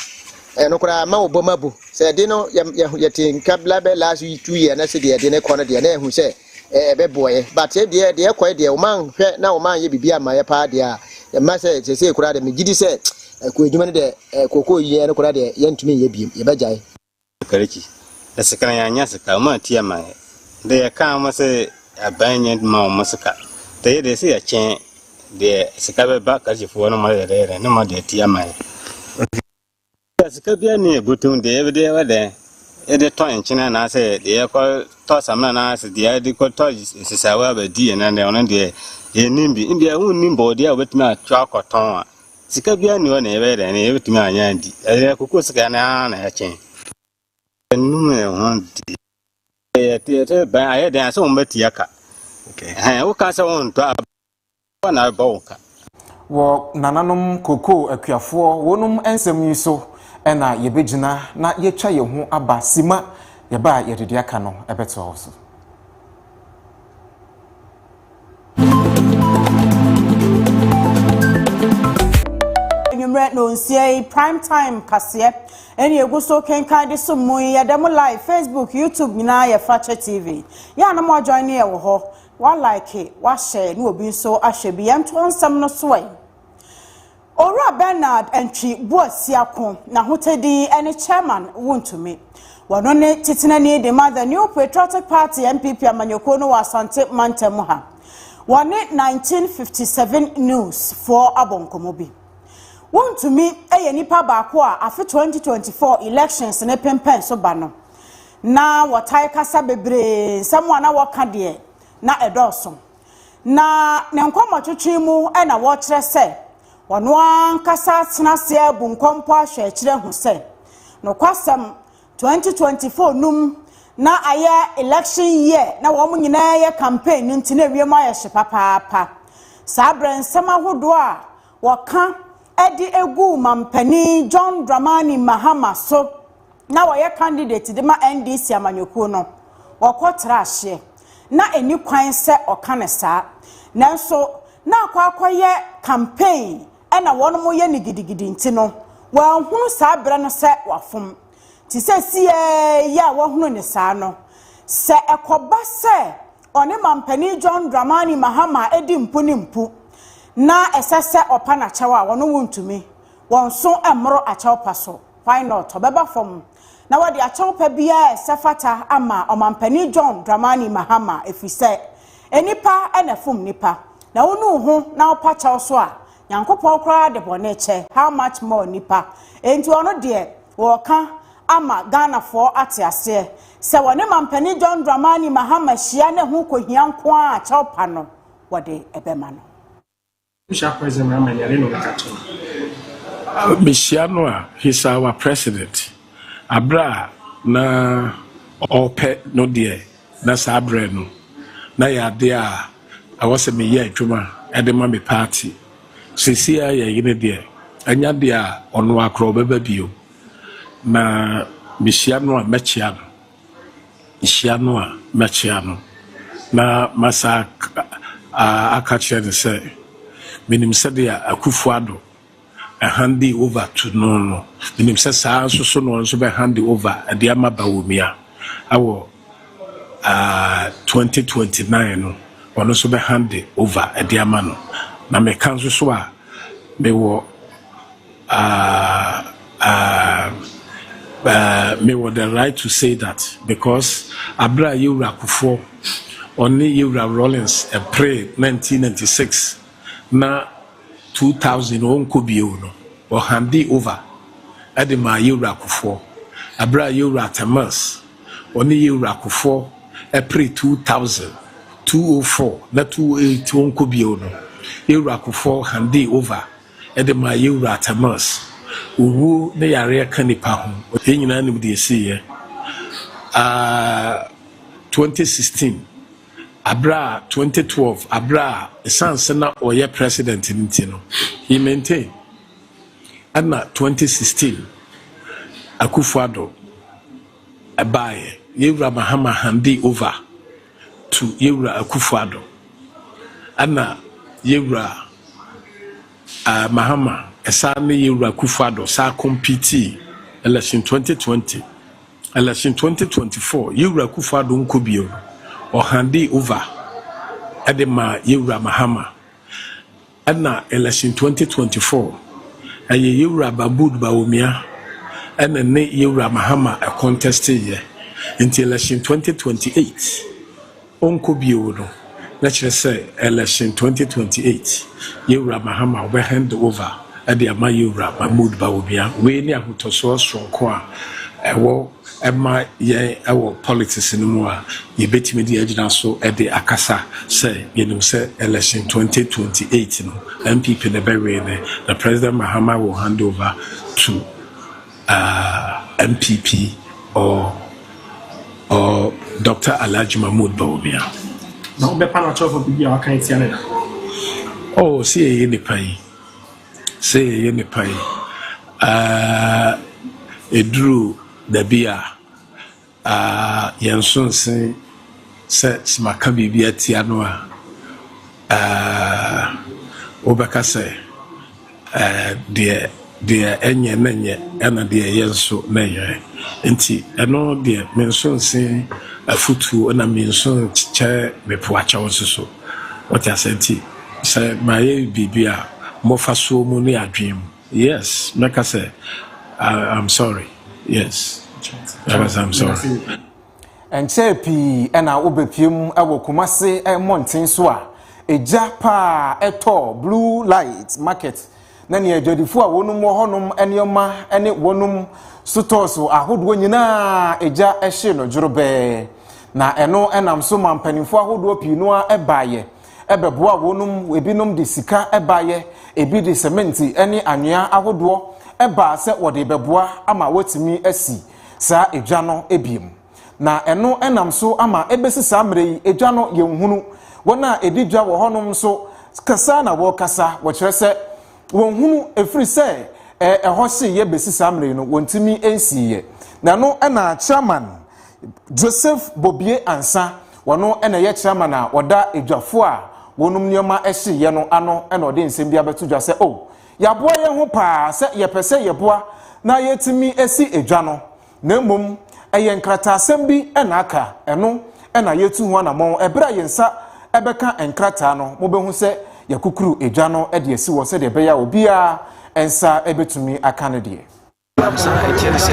ɛno koraa ɛma wo bɔm abu. Sɛ ɛde no, yɛte nka bɛ last two year na sɛ deɛ ɛde no kɔ no deɛ, na ɛhu sɛ ɛbɛboɔeɛ. But sɛ deɛ deɛ ɛkɔe deɛ, wɔn anhwɛ na wɔn anyɛ biribi ama yɛ paa deɛ a, ɛma sɛ sɛsei koraa deɛ, megye di sɛ ɛkɔ adwuma no deɛ, koko yɛ no koraa deɛ, yɛntumi nyɛ bio, yɛbɛgyae. Kariki,
dɛ sika na yɛannya sika, hom aatue ama hɛn. Dɛ yɛkaa hom sɛ aban nnyɛ dɛ mma hom sika. Dɛ yɛ dɛ sɛ yɛkyɛn deɛ sika bɛba Karikifo hɔ no hom ayɛ dɛ yɛ dɛn na hom ade atue ama hɛn. Ɔdze, Sɛ sika biara nnyi hɛn bɔtomu deɛ yɛbɛde ayɛ dɛn? Yɛde tɔ nkyen anaasɛ deɛ yɛkɔ tɔ samina anaasɛ deɛ yɛde kɔ tɔ nsesaawa abɛdi hɛn ndɛ, ɔno deɛ yɛnnim bi. Ndɛ hom nnim bɔɔdeɛ a wɔbɛtumi ato akɔtɔn a Sika biara nni hɔ na yɛbɛyɛ dɛn na yɛbɛtumi anya adi. Ɛyɛ kokoo sika no ara na ɛkyɛn. Ɛnum yɛn ho de. Yɛte bɛn ayɛ dɛn sɛ wɔbɛtua ka. Ɛhɛn, woka sɛ wontɔ aba hɔ na ɛbɔ wo ka. Wɔ
nananom kokoo akuafoɔ wɔnom nsɛm yi so na yɛbɛgyina na yɛatwa yɛn ho aba sima yɛba a yɛde de aka no bɛtoa wo so.
anwummerɛ na onsia yi prime time kaseɛ ɛne egu so kenkan de so mu yi yɛda mu live facebook youtube nyinaa yɛ fakyɛ tv yɛ anam adwan ne yɛwɔ hɔ walike wahyɛ ne obi nso ahwɛ bi yɛnto nsɛm no so ɛ. Owura Bernard Antwi Boasiako, N'ahotɛ din ne Chairman Wontumi. Wɔno ne Titenani de ma The New Patriotic Party, NPP, amanyɔkuo no wɔ Asante mantam ha. Wɔne 1957 News foɔ abɔ nkɔmmɔ bi. Wontumi yɛ nipa baako a afe 2024 elections no pempɛn so ba no. Na wɔtae kasa bebree, nsɛm a na wɔka deɛ na ɛdɔɔso. na ne nkɔmmɔtwetwe mu na wɔkyerɛ sɛ ɔno ankasa atena ase abu nkɔmpɔ ahwɛ akyiri ahu sɛ nokwasɛm 2024 num na ayɛ election year na wɔn nyinaa yɛ campaign no nti na ewiem ayɛ hye papaapa saa berɛ nsɛm ahodoɔ a wɔka de egu mampanin John Dramani Mahama so na ɔyɛ candidate de ma NDC amanyɔkuo no, ɔkɔ tra ahyeɛ. Na ɛnni kwan sɛ ɔka no saa. Nanso na akɔ akɔyɛ campaign na wɔnom reyɛ no gidigidi nti no, wanhunu saa berɛ no sɛ wafom. Nti seesei ara yi a wahunu no saa no, sɛ ɛkɔba sɛ ɔne Mampanin John Dramani Mahama di mpu ne mpu na ɛsɛ sɛ ɔpa no akyɛw a, wɔnom wontumi. Wɔn nso mmoro akyɛw pa so. Why not? Ɔbɛba fam na wɔde akyɛwpa biara a ɛsɛ fata ama Ɔmampanin John Dramani Mahama ɛfiri sɛ nnipa na ɛfom nnipa. Na wonu wo ho na wopa kyɛw so a, Nyankopɔn koraa de bɔne kyɛ, how much more nnipa? Enti ɔno deɛ wɔreka ama Ghanafoɔ ate aseɛ sɛ wɔne Mampanin John Dramani Mahama hyia na ɛho kɔhia nko ara a kyɛwpa no wɔde bɛma no.
Mehyia no a, he's our president. Aberɛ a na ɔrepɛ no deɛ, na saa berɛ no, na ɛyɛ adeɛ a ɛwɔ sɛ meyɛ adwuma de ma me party. Seesei ara yɛn yere deɛ, ɛnyɛ adeɛ a ɔno ara koraa ɔbɛba bio. Na mehyia no a, mɛkyea no. hyia no a, mɛkyea no, na masan aka akyerɛ no sɛ, Minim sɛnea Akufo-Addo hande over to no no. Minim sɛ saa ara nso so na ɔno nso bɛhande over de ama Bawumia wɔ 2029 no, ɔno nso bɛhande over de ama no. Na meka nso so a, mewɔ. Ah ah ah Me wɔ the right to say that because aberɛ a Yɛwura Kufuor ɔne Yɛwura Rawlings ɛperee 1996 na 2000 ɔnkɔ bio no, ɔhandee over de maa Yɛwura Kufuor. Aberɛ a Yɛwura Attammans ɔne Yɛwura Kufuor ɛperee 2000, 2004 na 2008 ɔnkɔ bio no, Yɛwura Kufuor handee over de maa yɛn Wura Atamas. Owuo ne yareɛ ka nnipa ho. Yɛn nyinaa nim deɛ ɛsiiɛ aah, 2016 berɛ a 2012 berɛ a ɛsiane sɛ na ɔyɛ President no nti no, he maintain ɛna 2016 Akufo-Addo baaeɛ. Yɛn Wura Mahama handee over. to Yewura Akuffo Addo ɛna Yewura eh, Mahama ɛsaa ne Yewura Akuffo Addo saa competii election 2020 election 2024 Yewura Akuffo Addo nkɔ bio ɔhande over ɛde ma Yewura Mahama Ɛna election twenty twenty four ɛyɛ yɛwura Babood Bawumia ɛna ne yɛwura Mahama ɛcontesting yɛ nti election twenty twenty eight ɔnkɔ bio no na kyerɛ sɛ election twenty twenty eight yɛwura Mahama ɔbɛ hand over ɛde ama yɛwura Mahmood Bawumia wei ne ahotɔsoɔ soronko a ɛwɔ ɛma yɛn wɔ politics no mu a yɛbɛtumi de agyina so de akasa sɛ yɛnim sɛ election 2028 no NPP na ɛbɛwee no na President Mahama will hand over to uh, NPP or, or Dr. Alhaji Mahmoud Bawumia. Na wobɛpa
no akyerɛfo biribi a waka atia ne da. Oh,
si ɛyɛ nipa yi. Sɛ yɛyɛ ne pɛ a, eduru baabi a, yɛn so nse sɛ sɛ maka biribi atia no a, wobɛka sɛ deɛ deɛ ɛnyɛ na nyɛ ɛna deɛ ɛyɛ nso na yɛ. Nti ɛno deɛ menso nse afutuo na menso nkyɛ mepoakyɛw nso so. Ɔte aseɛ nti sɛ mayɛ biribi a mofa soɔ mu ne adwene mu yes mɛka sɛ I'm sorry yes mɛka sɛ I'm sorry. Ɛnkyɛɛ
pii na wobepue mu wɔ Kumasi mmɔnten so a egya paa tɔɔ Blue Light Market na nea adwadifo a wɔnom wɔ hɔnom nneɛma ne wɔnom sotɔɔso ahodoɔ nyinaa gya hyee no dworobɛɛ. Na ɛno nam so ma mpanimfoɔ ahodoɔ pii no ara baeɛ ɛbɛboa wɔnom, ebinom de sika baeɛ, ebi de sementi ne anwea ahodoɔ baa sɛ wɔde bɛboa ama wɔatumi asi saa edwa no biom. Na ɛno nam so ama ɛbɛsi saa mmerɛ yi, egya no yɛnhunu. Wɔn a ɛdi dwa wɔ hɔnom nso, kasa na wɔkasa, wɔkyerɛ sɛ wɔnhunu, ɛfiri sɛ ɛhɔ hyeeɛ bɛsi saa mmerɛ yi no, wɔntumi nsiiɛ. Na ɛno na chairman Joseph Bobie Ansa, wɔno na ɛyɛ chairman a ɔda adwafoɔ a wɔnom nneɛma hyeeɛ no ano na ɔde nsɛm bi abɛto dwa sɛ, oh, yɛaboa yɛn ho paa sɛ yɛpɛ sɛ yɛboa na yɛtumi si adwa no. na mmom ɛyɛ nkrataasɛm bi na aka, ɛno na yɛretu ho anammɔn. Ɛberɛ a yɛn nsa bɛka nkrataa no, mobɛhu sɛ yɛakukuru gya no de asi hɔ sɛdeɛ ɛbɛyɛ a obiara nsa bɛtumi aka ne deɛ. Saa nti ɛne sɛ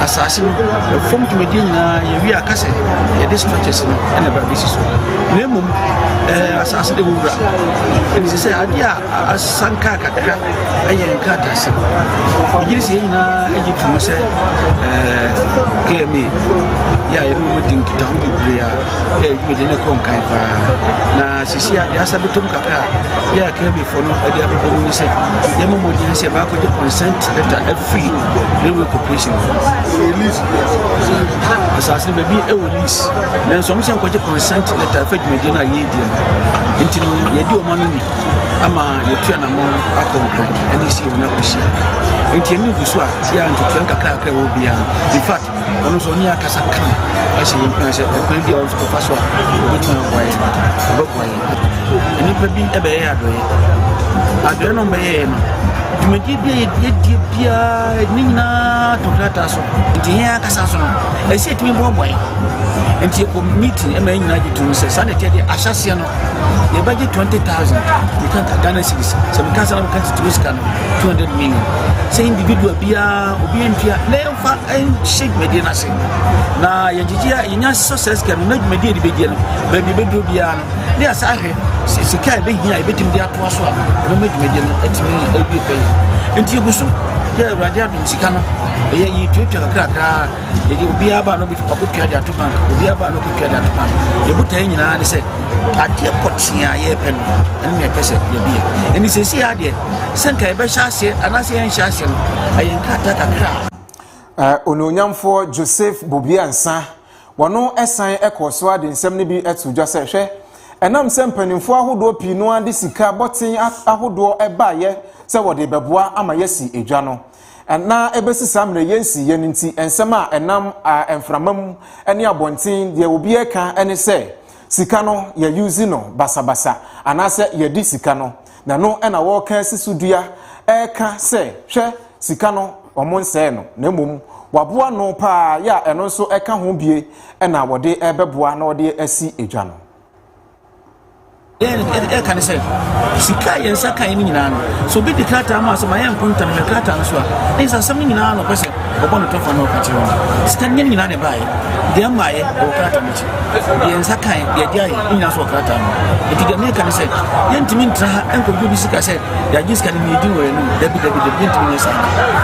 asase no fam dwumadie nyinaa yɛwie aka sɛ yɛde structures no ɛna ɛba bɛsi so na mmom asase de wowura ɛne sɛ sɛ adeɛ a Asan kaa kakra yɛ nkratasɛm. Megye di sɛ yɛn nyinaa gye tom sɛ KMA yɛ a yɛne wɔn di nkitaho bebree a yɛ dwumadi no kɔ nkan paa. Na sisi a deɛ asa bɛtɔm kakra a yɛ a KMAfoɔ no de abɛbɔ mu ne sɛ yɛma mmɔden sɛ baakɔgye consent letter afiri railway corporation asase no baabi ɛwɔ lease nanso ɔmo sɛ nkɔgye consent letter ɛfɛ dwumadi no a yɛredi no nti no yɛdi ɔma no ni ama yɛatu anammɔn akɔ nkwa mu ɛne sɛ yɛwɔ no akɔhyia nti ɛne gu so a tia ntotoa nkakrakra ɛwɔ biara no infact ɔno nso ɔne akasa ka ɛhyɛ yɛ mpena sɛ ɛkwan bi a ɔnso kɔfa so a ɔbɛtumi aboa yɛ ɔbɛboa yɛ nnipa bi ɛbɛyɛ adɔeɛ adɔeɛ no bɛyɛɛ no dwumadie bi a yɛdie biara ne nyinaa to krataa so nti yɛn ankasa so no ɛsɛ ɛtumi boaboa yɛ nti yɛkɔ meeting ɛma yɛ nyinaa gye tom sɛ saa na ɛteɛ deɛ ahyɛseɛ no yɛbɛgye twenty thousand meka ka ghana series sɛ meka sɛ na meka titiri sika no two hundred million sɛ individual biara obi ntua na yɛmfa nhyɛ dwumadie no ase na yɛgyegye a yɛnya success ka no na dwumadie de bɛgye no baabi bɛduro biara no ne yɛsa ahwɛ sika a ɛbɛhia a yɛbɛtumi de atoa so a ɛbɛma dwumadie no atumi awie pɛyɛ nti yɛgu so yɛ awurade adom sika no ɛyɛ yɛtuatua kakrakraa yɛde obiara ba no ɔbɛtua de ato bank obiara ba no ɔbɛtua de ato bank yɛbotaeɛ nyinaa ne sɛ adeɛ pɔtee a yɛrepɛ no ɛno na ɛpɛ sɛ yɛbi yɛ ɛne sɛsi adeɛ sɛ nka yɛbɛhyɛ aseɛ anaasɛ yɛnhyɛ aseɛ no ɛyɛ nkrataa kakra a onuonyamfoɔ
joseph bobiansa wɔno ɛsan ɛkɔɔ so ade nsɛm no bi ɛto dwa sɛ hwɛ ɛnam sɛ mpanimfoɔ ahodoɔ pii no ara de sika bɔten ahodoɔ ɛbaeɛ sɛ wɔde bɛboa ama yɛasi adwa no Ɛnã ɛbɛsi saa mmerɛ yei nsi yɛ no nti, nsɛm a ɛnam a mframa mu ne abɔnten deɛ obiara reka ne sɛ sika no yɛ use no basabasa anaasɛ yɛde sika no na no na wɔreka asi so dua ɛreka sɛ hwɛ sika no wɔn nsɛɛ no na mmom waboa no paa yɛ a ɛno nso ɛka ho bie na wɔde ɛbɛboa na wɔde asi adwa no. Deɛ
yɛde ɛka ne sɛ sika a yɛn nsa kae no nyinaa no sɛ obi de krataa ma sɛ ma yɛ nkonta no krataa no so a ɛyɛ sɛ asɛm no nyinaa na ɔpɛ sɛ ɔbɔ no tɔfa na ɔka kyerɛ wɔn sika no nyinaa na ɛbaeɛ deɛ mmaeɛ ɛwɔ krataa no akyi deɛ nsa kae deɛ de ayɛ ne nyinaa so wɔ krataa no ɛti deɛ meka ne sɛ yɛntumi ntra ha ɛnkɔdwo bi sika sɛ yɛagye sika no ne yɛdi wɔ yɛn anim dabi dabi dabi yɛntumi nyɛ saa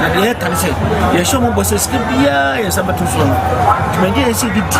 na deɛ yɛka ne sɛ yɛhyɛ ɔmɔbɔ sɛ sika biara yɛn nsa bɛto soɔ no dwumadie a yɛsɛ yɛde di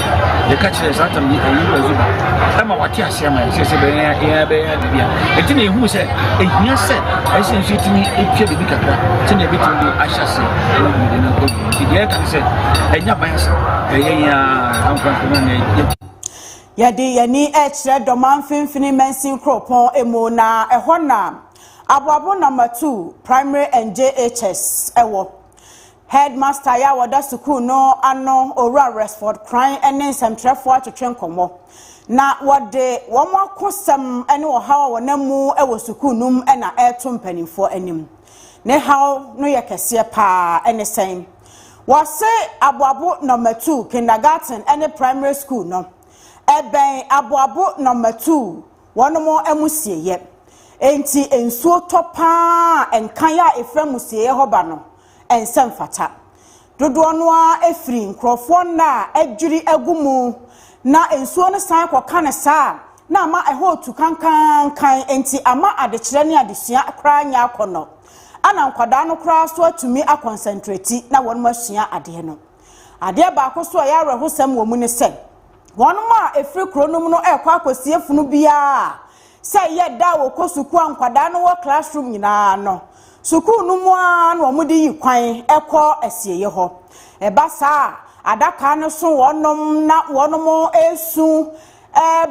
yɛka kyerɛ saa tam yi ɛyi wɔ zuba ɛma wate ase ama yɛn sɛ bɛyɛ yɛn bɛyɛ biribi a ɛti na ehu sɛ ehia sɛ ɛsɛ nso etumi etwa biribi kakra sɛ na ebitumi de ahyɛ ase ɛna biribi na ɛkɔ bi nti deɛ ɛka sɛ ɛnya ban sɛ ɛyɛ yɛn a nkorafo na na yɛ.
yɛde yɛn ani ɛkyerɛ dɔma mfimfini mansin kuropɔn emu na ɛhɔ na aboabo na matu primary and jhs ɛwɔ. Hɛdmasta a ɔda sukuu no ano, Owura Resford Kran ne nsɛmtwerɛfoɔ atwetwe nkɔmmɔ, na wɔde wɔn akosɛm ne ɔhaw a wɔnam mu wɔ sukuu no mu na ɛreto mpanimfoɔ anim. Ne haw no yɛ kɛseɛ paa. Ɛne sɛn? Wɔse Aboabo Nɔma Tu Kindergarten ne Primary School no, ɛbɛn Aboabo Nɔma Tu wɔn amusieeɛ. Enti nsuo tɔ paa a nkan a ɛfiri amusieeɛ hɔ ba no, ɛnsɛ mfata. Dodoɔ no ara firi nkurɔfoɔ nna a adwiri agu mu na nsuo no san kɔka no saa a, na ama ɛhɔ retu kankankan, enti ama adekyerɛ ne adesua koraa nyɛ akɔnnɔ. Ana nkwadaa no koraa nso atumi akɔnsɛntreti na wɔasua adeɛ no. Adeɛ baako nso a ɛyɛ awerɛhosɛm wɔ mu ne sɛ, wɔn a ɛfiri kuro no mu no rekɔ akɔsie funu biara a, Sɛ yɛ da a wɔkɔ sukuu a nkwadaa no wɔ classroom nyinaa no, sukuu no mu ara na wɔde yi kwan kɔ asieeɛ hɔ. Ɛba saa a, adaka no so wɔnom na wɔnom resu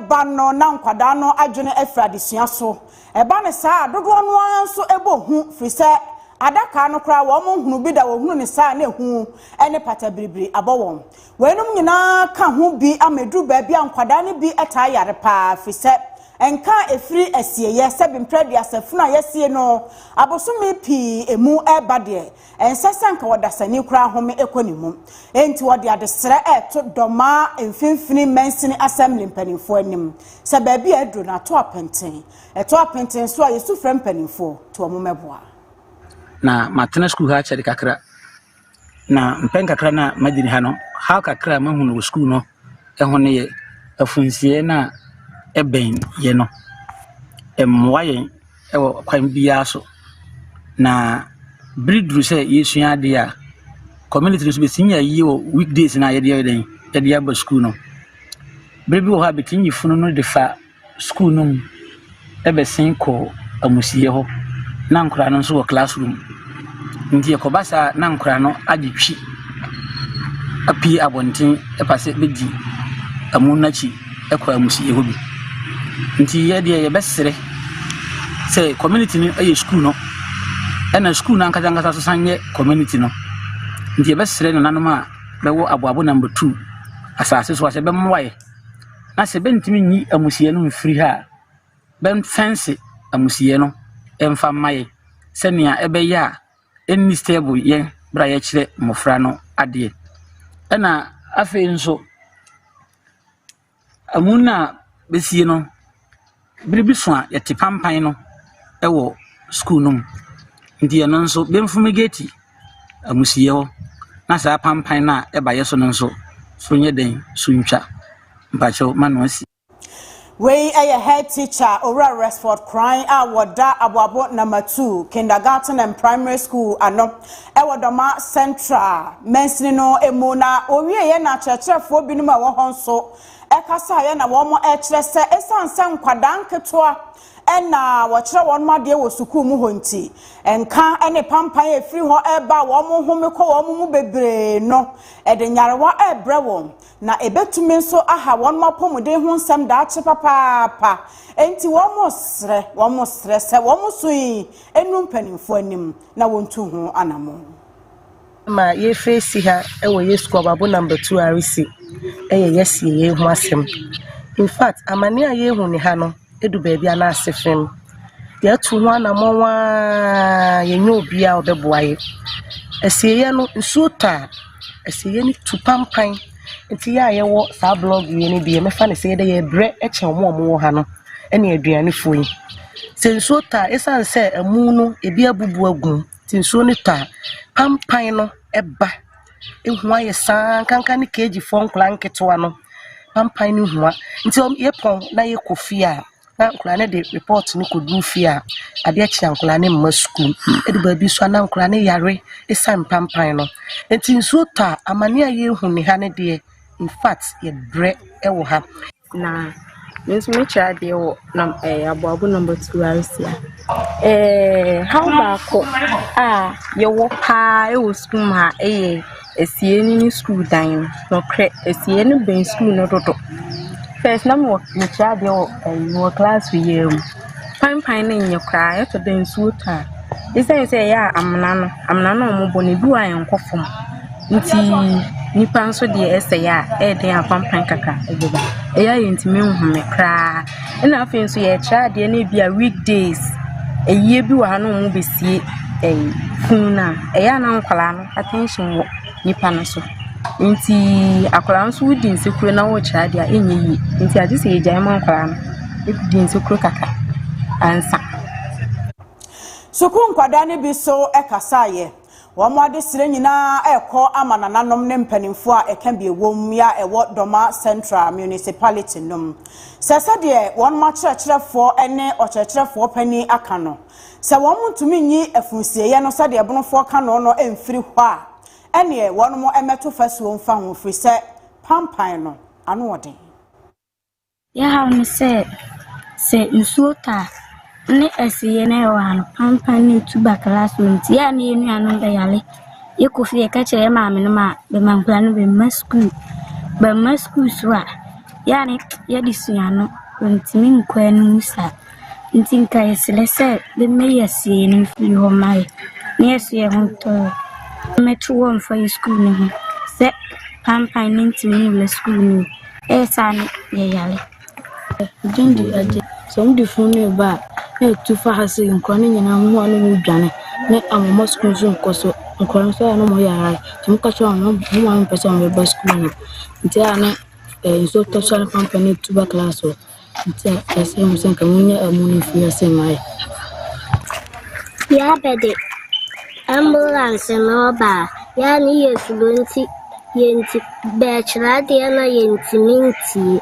ba no na nkwadaa no adwene afiri adesua so. Ɛba no saa a, dodoɔ no ara nso bɔ hu firi sɛ adaka no koraa wɔn nhunu bi da, wɔhunu no saa a na ehu ne patabiribiri abɔ wɔn. Weinom nyinaa ka ho bi ama ɛduru baabi a nkwadaa no bi taa yare pa ara firi sɛ nka a ɛfiri asieeɛ sɛ bi mprɛ aduasa funu a yɛasie no abosome pii mu reba deɛ ɛnsɛ sɛ nka ɔdasani koraa home kɔ ne mu. Enti wɔde adesrɛ reto dɔ ma Mfimfini Mansini Assembly mpanimfoɔ anim sɛ baabi a aduro no ato apenten. Ɛtɔ apenten nso a yɛsu frɛ mpanimfoɔ to wɔn mmɛboa. Na
matena sukuu ha kyɛre kakra. Na mpɛn kakra no a magyina ha no, haw kakra a mahu no wɔ sukuu no ho no yɛ afunsiɛ no a ɛbɛn yɛ no. Ɛmmoa yɛn wɔ kwan biara so. Na bere duru sɛ yɛsua adeɛ a, community no nso bɛtumi yɛ ayie wɔ weekdays no a yɛde yɛ dɛn, yɛde aba sukuu no. Bere bi wɔ hɔ a bɛtumi yi funu no de fa. skuul no mu bɛsen kɔ amusieyɛ hɔ na nkwadaa no nso wɔ class room. Nti ɛkɔba saa na nkwadaa no agye twi apue abɔnten ɛba sɛ bɛdi amu no akyi kɔ amusieyɛ hɔ bi. Nti yɛ deɛ yɛbɛsrɛ sɛ community no yɛ skuul no ɛna skuul no ankasa ankasa nso san yɛ community no. Nti yɛbɛsrɛ nananom a bɛwɔ aboabo number two asase so ha sɛ bɛmmoa yɛ. na sɛ bɛntumi nyi amusiiɛ no mfiri ha a, bɛmfɛnse amusiiɛ no mfa mma yɛn sɛnea ɛbɛyɛ a ɛnnistaabo yɛn berɛ a yɛkyerɛ mmɔfra no adeɛ. Ɛna afei nso, amu no a bɛsie no. Bere bi so a yɛte pampan no wɔ sukuu no mu. Nti ɛno nso, Benfumi Gate amusiiɛ hɔ na saa pampan no a ɛba yɛ so no nso so nyɛ dɛn so ntwa. Mpakyɛw ma no asi. Wei
yɛ Head Teacher Owura Resford Kran a wɔda Aboabo Nama Two Kindergarten and Primary School ano wɔ Dɔma Central mansini no mu na ɔwieɛ na akyerɛkyerɛfoɔ binom a ɛwɔ hɔ nso kasaeɛ na wɔkyerɛ sɛ ɛsiane sɛ nkwadaa nketewa na wɔkyerɛ wɔn adeɛ wɔ sukuu mu hɔ nti, nka ne pampan a ɛfiri hɔ ɛreba a wɔn home kɔ wɔn mu bebree no de nyarewa ɛrebrɛ wɔn, na ɛbɛtumi nso aha wɔn apɔmuden ho nsɛm daakye papaapa. Enti wɔsrɛ wɔsrɛ sɛ wɔn so yi nnu mpanimfoɔ anim na wɔntu ho anammɔn. ma
yɛrefiri si ha wɔ yɛ sukuu ɔbabo number two a resi yɛ yɛsie yei ho asɛm infact amane a yɛhu ne ha no ɛdu baabi a na ase fam yɛatu ho anammɔn a yɛnyɛ obiaa a ɔbɛboa yɛ asieɛ no nsuo tɔ a asieɛ no tu pampan nti yɛ a yɛwɔ saa blog yɛ no deɛ mɛfa no sɛ yɛdɛ yɛbrɛ kyɛ ɔmo ɔmo wɔ ha no ɛne aduanefoɔ yi sɛ nsuo tɔ a ɛsiane sɛ ɛmu no ebi abubu agum Nti nsuo no tɔ a, pampan no ba. Ehua yɛ saa, nkanka ne keejifoɔ nkwadaa nketewa no, pampan no hua. Nti wɔn, yɛpɔn na yɛkɔ fie a, na nkwadaa no de report no kɔduru fie a, adeɛ kye a nkwadaa no mma sukuu. Edu baabi nso a, na nkwadaa no yare esiane pampan no. Nti nsuo tɔ a, amaneɛ a yɛrehu nnɛ ha no deɛ, infact yɛbrɛ wɔ ha. Na
me nso mekyerɛ adeɛ wɔ nam ɛɛ eh, aboabo number two aresia ɛɛ eh, haw baako a yɛwɔ paa ɛwɔ sukuu mu ha ɛyɛ esie ne ne sukuu dan no nɔkorɛ esie no bɛn sukuu no dodo fɛs na mewɔ mekyerɛ adeɛ wɔ ɛyi wɔ class yɛ mu. Panpan no nnyɛ koraa, ɛtɔ da a nsuo tɔ a, ɛsiane sɛ ɛyɛ a amena no, amena no a wɔbɔ no, ɛbi wɔ hɔ a ɛnkɔ fam, nti nnipa nso deɛ ɛsɛ a, ɛyɛ den a panpan kakra ɛde ba. Ɛyɛ a yɛntumi nhome koraa. Ɛna afei nso yɛrekyerɛ adeɛ no bi a week days, ayie bi wɔ ha na wɔbɛsie funu no a, ɛyɛ a na nkwadaa no attention wɔ . nipa no so. Ntsi akwadaa no so wodzi nsekuro na wɔrekyerɛ ade a ɛnyɛ yie. Ntsi adze sɛ yɛgyae ma nkwadaa no di nsekuro kakra ansa.
Sukuu nkwadaa no bi so kasaeɛ. Wɔn adesrɛ nyinaa rekɔ ama nananom ne mpanimfoɔ a ɛka bi wom a ɛwɔ Doma Central Municipality no mu. Sɛ sɛdeɛ wɔn akyerɛkyerɛfoɔ ne ɔkyerɛkyerɛfoɔ panin aka no, Sɛ wɔntumi nyi afunusieeɛ no sɛdeɛ ɛbonofoɔ ka no no mfiri hɔ a, ɛnneɛ wɔn mmɛto fasuo mfa ho, ɛfiri sɛ pampan no ano wɔ den.
Deɛ ɛhaw ne sɛ, sɛ nsuo tɔ a, ne asieeɛ no a ɛwɔ ha no, pampan ne tuberculous wɔ mu nti, yɛ a na yɛn nuanom bɛyare. Yɛkɔ fie a, yɛka kyerɛ yɛn maamenom a, bɛma nkwadaa no bɛmma sukuu. Bɛmma sukuu nso a, yɛ a na yɛde sua ano, wɔntumi nkɔ anim saa. Ntsi nka yɛserɛ sɛ bɛma yɛasi hɛn mfir hɔ ma yɛ na yɛso yɛho tɔɔ na mɛto hɔ mfa yɛ skuul no ho sɛ paanpan no nntumi nwura skuul no mu ɛyɛ saa no yɛ yare. Dɛn nti
na ɛgye sɛ wɔde funu no reba a na etu fa ha sɛ nkwadaa no nyinaa ho a na wɔredwane ne wɔmma sukuu nso nkɔ so nkwadaa nso a na wɔyɛ araa nti wɔka kyerɛ wɔn wɔn maame mpɛ sɛ wɔbɛba sukuu no nti a na nsuo tɔ so a na pampane tu ba class hɔ. Nti a ɛsrɛ mo sɛ nka monyɛ amu no mfiri ase mmae.
Yɛabɛde ambulance no ɔba a, yɛa ne yɛ suro nti yɛnti bɛɛkyerɛ adeɛ na yɛntumi ntie.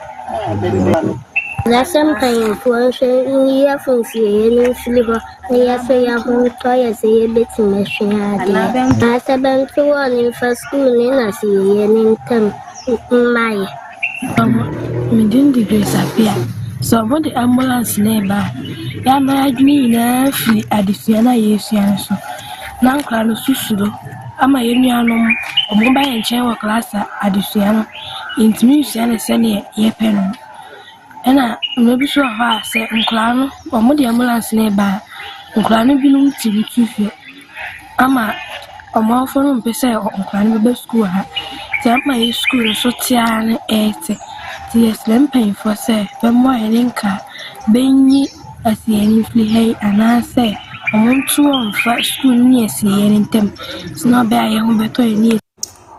Yɛsɛ mpanyinfoɔ nso nyi yɛ fo nsieɛ no mfiri hɔ na yɛsɛ yɛ ho ntɔ yɛ sɛ yɛbɛtumi asua adeɛ. Naasɛ bɛnto wɔn mfa sukuu ne na sieɛ no ntam mmae. Mama,
me din de Grace Appiah. Sɛ wɔde ambulance na ɛba a, yɛn ama adwene nyinaa firi adesua no a yɛresua no so. Na nkwadaa no nso suro ama yɛn nuanom wɔba yɛn nkyɛn wɔ class a adesua no yɛntumi nsua no sɛdeɛ yɛpɛ no. Ɛna mmerɛ bi nso wɔ hɔ a sɛ nkwadaa no wɔde ambulance no reba a, nkwadaa no binom ti bi tu fo ama wɔn awofoɔ no mpɛ sɛ nkwadaa no bɛba sukuu ha. Nti ama yɛn sukuu no so te ara no ɛɛte. Nti yɛsrɛ mpaninfoɔ sɛ bɛmmoa yɛne nkaa bɛnyi asiiɛ no mfiri ha yi anaa sɛ wɔnto wɔn mfa sukuu no ne asiieɛ no ntam sɛdeɛ ɛbɛyɛ a yɛn ho bɛtɔ yɛn ne.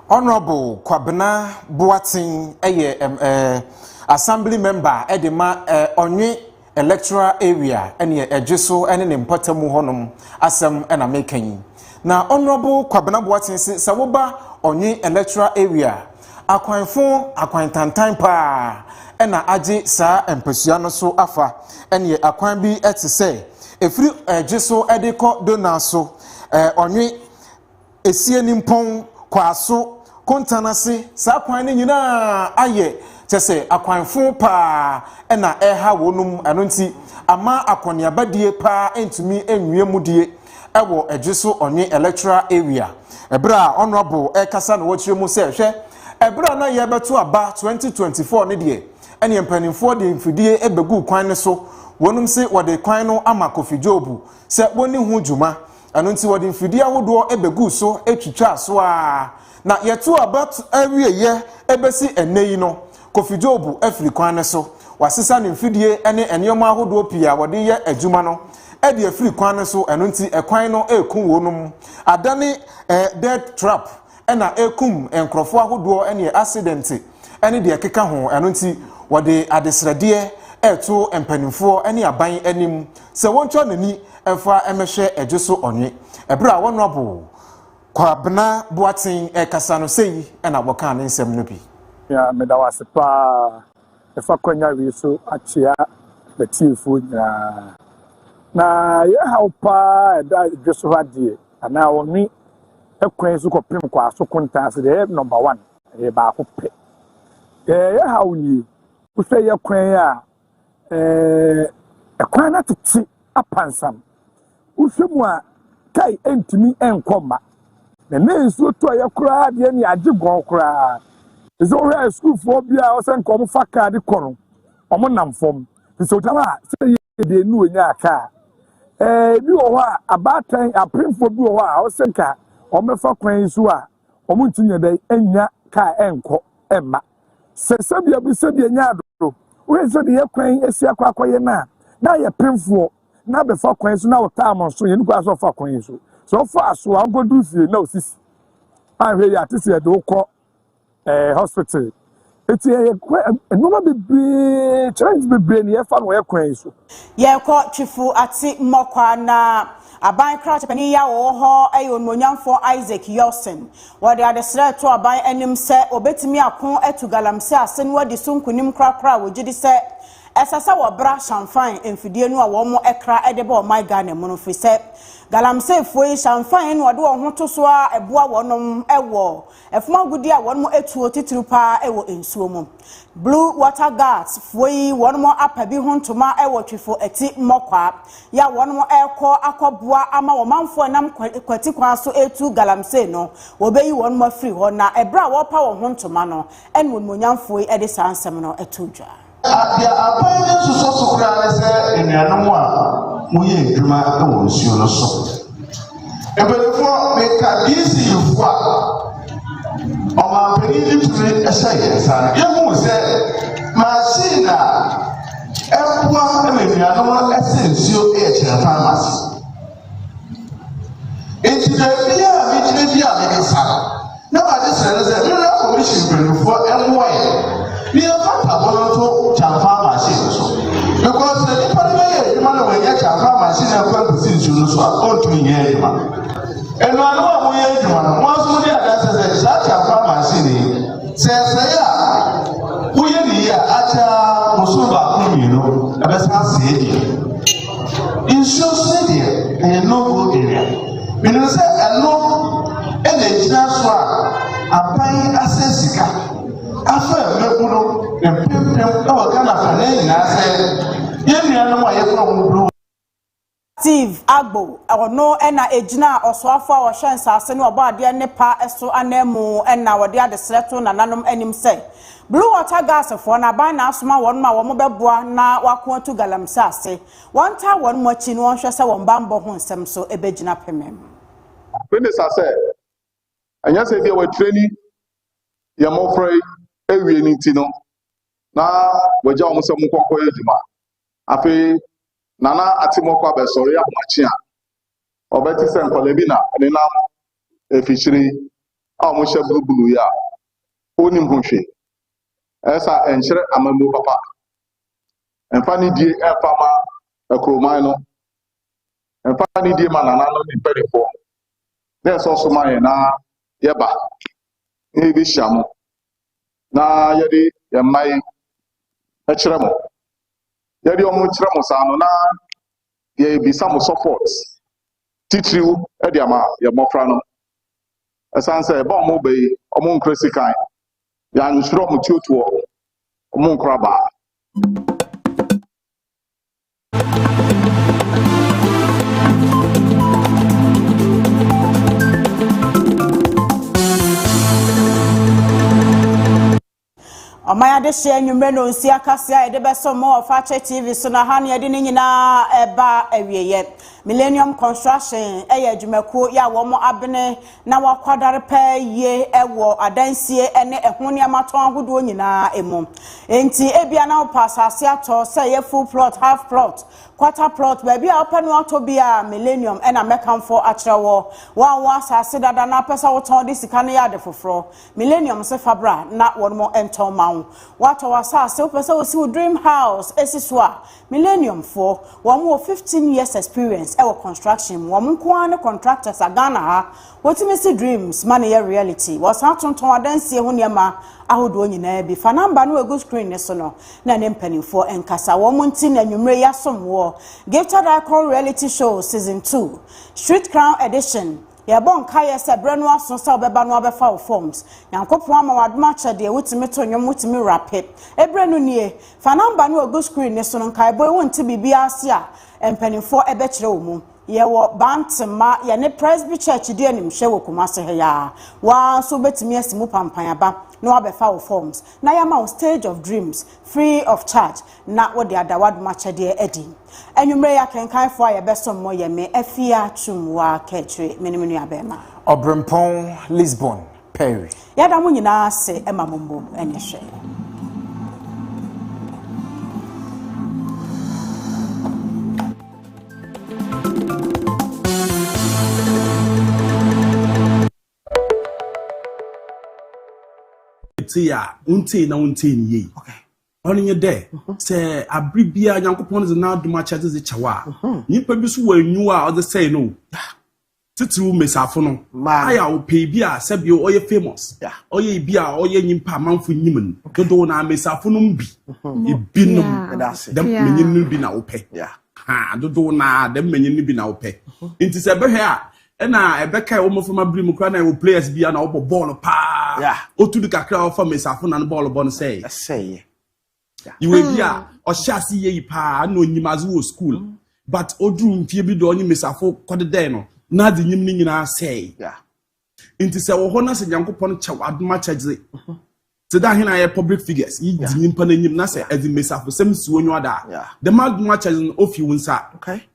Honourable
Kwabena Boateng yɛ um, uh, assembly member de ma uh, Ɔnwe electoral area ɛne ɛgye so ne ne mpɔtamu hɔnom asɛm na meka yi. Na Honourable Kwabena Boateng se sɛ woba Ɔnwe electoral area akwanfo akwantantan paa ɛna agye saa mpasua no so afa ɛne akwan bi te sɛ ɛfiri ɛgye so de kɔ Dona so Ɔnwe Asienimpɔn, Kwaso, Kontan ase, saa kwan no nyinaa ayɛ kyɛ sɛ akwanfo paa na ɛreha wɔnom, ɛno nti ama akɔneaba die paa ntumi nwia mu die wɔ Adwe so Ɔnwe Electoral Area. Ɛberɛ a Honourable ɛrekasa na ɔkyerɛ mu sɛ hwɛ ɛberɛ a na yɛrebɛto aba 2024 no deɛ ɛneɛ mpaninfoɔ de mfidie bɛguu kwan no so, wɔnom se wɔde kwan no ama Kofi Jobu sɛ wɔnni ho dwuma Ɛno nti wɔde mfidie ahodoɔ bɛguu so twitwaa so ara, na yɛtoo aba awieeɛ bɛsi ɛnnɛ yi no, Kofi Dwobo afiri kwan no so. Wɔasesa ne mfidie ne nneɛma ahodoɔ pii a wɔde yɛ adwuma no de afiri kwan no so, ɛno nti kwan no reku wɔnom, adane death trap na ɛkum nkorɔfoɔ ahodoɔ neɛ asedɛnte ne deɛ ɛkeka ho, ɛno nti wɔde adesrɛdeɛ reto mpanimfoɔ ne aban anim sɛ wɔntwa n'ani mfa mmɛhwɛ ɛdwo so ɔnwe. Ɛberɛ a Honourable Kwabena Boateng rekasa no sei na wɔkaa ne nsɛm no bi. Mea meda wo ase
paa ɛfa kwanya wei so akyea m'atiefoɔ nyinaa. Na yɛn haw paa ɛda dwo so ha deɛ. Anaa ɔnwe kwan so kɔpem kɔ aso kontaa ase, deɛ ɛyɛ number one, ɛyɛ baako pɛ. Deɛ ɛyɛ haw nie, wohwɛ yɛ kwan a, ɛɛ, ɛkwan no atete apansam. Wohwɛ mu a, kai ɛntumi ɛnkɔ mma. Na ne nsuo tɔ yɛ koraa deɛ ne agye gɔn koraa. Te sɛ wohwɛ a sukuufoɔ bi a wɔsɛ nka wɔfa kaa de kɔ no, wɔnam fam. Te sɛ wogyina hɔ a, sɛ yɛ. deɛ ne ɔnyaa ka a, ebi wɔ hɔ a abaatan apemfoɔ bi wɔ hɔ a ɔsɛ nka wɔbɛfa kwan yi so a wɔnti nyɛ dɛ ɛnya ka a ɛnkɔ ɛmma sɛ sɛbea bi sɛdeɛ nya adoro woyɛ sɛ de yɛ kwan asi akɔ akɔyɛ no a na yɛ pemfoɔ na bɛfa kwan so na ɔtaa mo so yɛn kwan so ɔfa kwan yi so sɛ ɔfa so a ɔnkɔduru fie na ɔsisi ahwɛ yi ate sɛ yɛde wokɔ eh, hospital. Eti ɛyɛ nneɛma bebree challenge bebree na yɛfa no ɔyɛ kwan yi so. Yɛkɔ Twifo
Ate Mmɔkwa na aban krakyepanyin yi a wɔwɔ hɔ yɛ onuonyamfo Isaac Yelson. Wɔde adesrɛ reto aban anim sɛ obetumi ako atu galamsey ase no adi so nkonim korakora a wɔgye di sɛ ɛsɛ sɛ wɔbra hyɛnfan mfidie no a wɔn kra de ba ɔman Ghana mu no firi sɛ galamseyfoɔ yi hyɛnfan na wɔde wɔn ho to so a ɛboa wɔnom wɔ Ɛfom agudeɛ a wɔnom ɛtuo titiriw paa ɛwɔ nsuo mu. Blue water guards foɔ yi wɔnom apa bi ho ntoma ɛwɔ Twifo Ati mmɔkwaa yɛ a wɔnom ɛrekɔ akɔ boa ama wɔmanfoɔ a ɛnam kwati kwan so ɛretu galamsey no wɔbɛyi wɔnom afiri hɔ na ɛberɛ a wɔrepa wɔn ho ntoma no ɛna onimuonyamfoɔ yi ɛde saa nsɛm no ɛtoo dwa. Nea aban
no nsosɔ so koraa ne sɛ anuanom a wɔyɛ adwuma wɔ nsuo no so. Mpanimfoɔ, meka DCUfoɔ a ɔmanpanin no tumi hyɛ yɛn nsa no, yɛhu sɛ machine a ɛboa ma anuanom no sɛ nsuo yɛ kyerɛ pharmacy. Enti baabi a megyina bi a mede nsa no, na made srɛ no sɛ mmerɛ kɔmihyin mpanimfoɔ mmoa yɛ na yɛmfa ntabo no nto kyamfa machine no so. Because sɛ nnipa no bɛyɛ adwuma na wɔnyɛ kyamfa machine no akɔ agusi nsuo no so a, ɔntumi nyɛ adwuma. Anuanom a moyɛ adwuma no, mo asom de adanse sɛ saa kyamfa machine yi, sɛ ɛsɛe a, woyɛ ne yie a, akyɛ ara, mo so baako mmienu ɛbɛsan asɛe deɛ. Nsuo sene deɛ ɛyɛ low growth area. Menim sɛ ɛno ɛna ɛgyina so a aban asɛ sika afa mmabunu mpempem ɛwɔ Ghana fa na nyinaa sɛ yɛn nuanom a yɛfrɛ wɔn blue Steve
Agbo, ɔno na egyina ɔsoafo a ɔhwɛ nsase ne ɔbɔadeɛ nnepa so ananmu na ɔde adesrɛ to nananom anim sɛ Blue Water Gas foɔ no aban na asoma wɔn ma wɔn bɛboa na wɔako atu galamsey ase. Wɔn taa wɔn mo akyi na wɔn hwɛ sɛ wɔn banbɔ ho nsɛm nso ɛbɛgyina pemem. Minister
sɛ ɛnyɛ sɛ ebia wɔ traini yɛn mmɔfra yi awie no nti no na wɔagya wɔn sɛ wɔn nkɔ nkɔyɛ adwuma. Afei Nana Atimɔkɔ abɛsɔre ahomakye a ɔbɛte sɛ nkwadaa bi na ɛnenam afikyiri a wɔhyɛ bulubulu yi a Onnim ho hwee. Ɛyɛ saa ɛnkyerɛ amammuo papa. Ɛmfa nidie ɛmfa mma akuroman no. Ɛmfa nidie mma nananom ne mpanimfoɔ. Na ɛsɔ so ma yɛn na yɛba na yɛbɛhyia mo na yɛde yɛn mma yi kyerɛ mo. Yɛde wɔn kyerɛ mo saa no na yɛbisa mo support titiriw de ama yɛn mmɔfra no. Ɛsan sɛ ɛba ɔmo bɛ yi ɔmo nkra sikan ya nhyira ɔmo tuotuɔ ɔmo nkra baa.
Ɔman adehye anwummere no nsia kaseɛ a yɛde bɛsom mo wɔ Fakyɛ TV so no, aha na yɛde ne nyinaa ɛba awieɛ. Millennium Construction yɛ adwumakuo yɛ a wɔn abene na wɔakwadare paa yie wɔ adansie ne ɛho nneɛma tɔn ahodoɔ nyinaa mu. Enti ebia na wopɛ asase atɔ, sɛ ɛyɛ full plot, half plot, quarter plot, baabi a wopɛ no atɔ bi a, Millennium na mɛkamfo akyerɛ wɔ. Wɔn a wɔn asase dada na apɛ sɛ wotɔn de sika no yɛ ade foforɔ, Millennium se fa bra na wɔn mo ntɔn ma wo. Woatɔ w'asaase wopɛ sɛ wosi wo dream house esi so a, Millennium foɔ, wɔn wɔ fifteen years experience ɛwɔ construction mu, wɔn nko ara ne contractors a Ghana ha wotumi si dreams ma no yɛ reality. Wɔsan tontɔn adansie ho nneɛma ahodoɔ nyinaa bi. Fa number no a egu screen no so no na ɛne mpanimfoɔ nkasa. Wɔn nti na anwummere yi yɛasom woɔ. Gifted Icon Reality Show Season Two, Street Crown Edition, Yɛbɔ nkaeɛ sɛ berɛ no aso sɛ wobɛba na wabɛfa wo forms. Nyankopɔn ama w'adom akyɛ deɛ wotumi to nnwom, wotumi rape. Eberɛ no nie. Fa number no a egu screen no so no nkaebɔ yi wonte biribiara ase a mpaninfoɔ ɛbɛkyerɛ wo mu. Yɛwɔ Bantema, yɛne Presby Church di animhwɛ wɔ Kumasi ha yi ara. Wo ara nso wobɛtumi asi mu pampan aba na wabɛfa wo forms na yɛama wo Stage of Dreams free of charge. na wode ada w'adom akyɛdeɛ adi. Anwummerɛ yi akenkanfoɔ a yɛbɛsom mo yɛ me, Afia Twumwaa Kakyire, me ne me nuabarima. Ɔberempɔn
Lisbon Perry. Yɛda mo nyinaa
ase ma mo mmom ne hwɛ.
Te a, wontee na wontee ne yie. ɔno nye dɛ mhm. sɛ abere biara nyankopɔn dze n'adom akyɛdze dze kyɛw a mhm. nyimpa bi so wɔ enyiwa a ɔdze sɛe no titiriw mbesiafo no ayɛ a ɔpɛ bi a sɛbi ɔyɛ famous ɔyɛ bi a ɔyɛ nyimpa amanfo nyim no dodow na mbesiafo no bi mhm. ebinom dɛm menyin no bi na wopɛ dodow na dɛm menyin no bi na wopɛ nti sɛ bɛhwɛ a ɛna ɛbɛka ɛwɔ mmɔframma bere mu koraa na ɛwɔ players bi a na ɔbɔ bɔɔl paa otu de kakra ɔfa mesafo na no bɔɔl bɔ no sɛe ɛsɛeɛ yiwe bi a hmm. ɔhyɛ ase yie yi paa na onyim adze wɔ school hmm. but oduru mfie bi do ɔnye mesafo kɔdedɛe no n'adze nyim no nyinaa sɛe nti sɛ wɔ hɔ na sɛ nyankopɔn kyɛw adoma kyɛdze hmm. te dɛ ahena yɛ public figures yi dzi nyimpa n'enyim na sɛ ɛdze mesafo sɛm si wonyo ada dɛm adoma kyɛdze no ofi wo nsa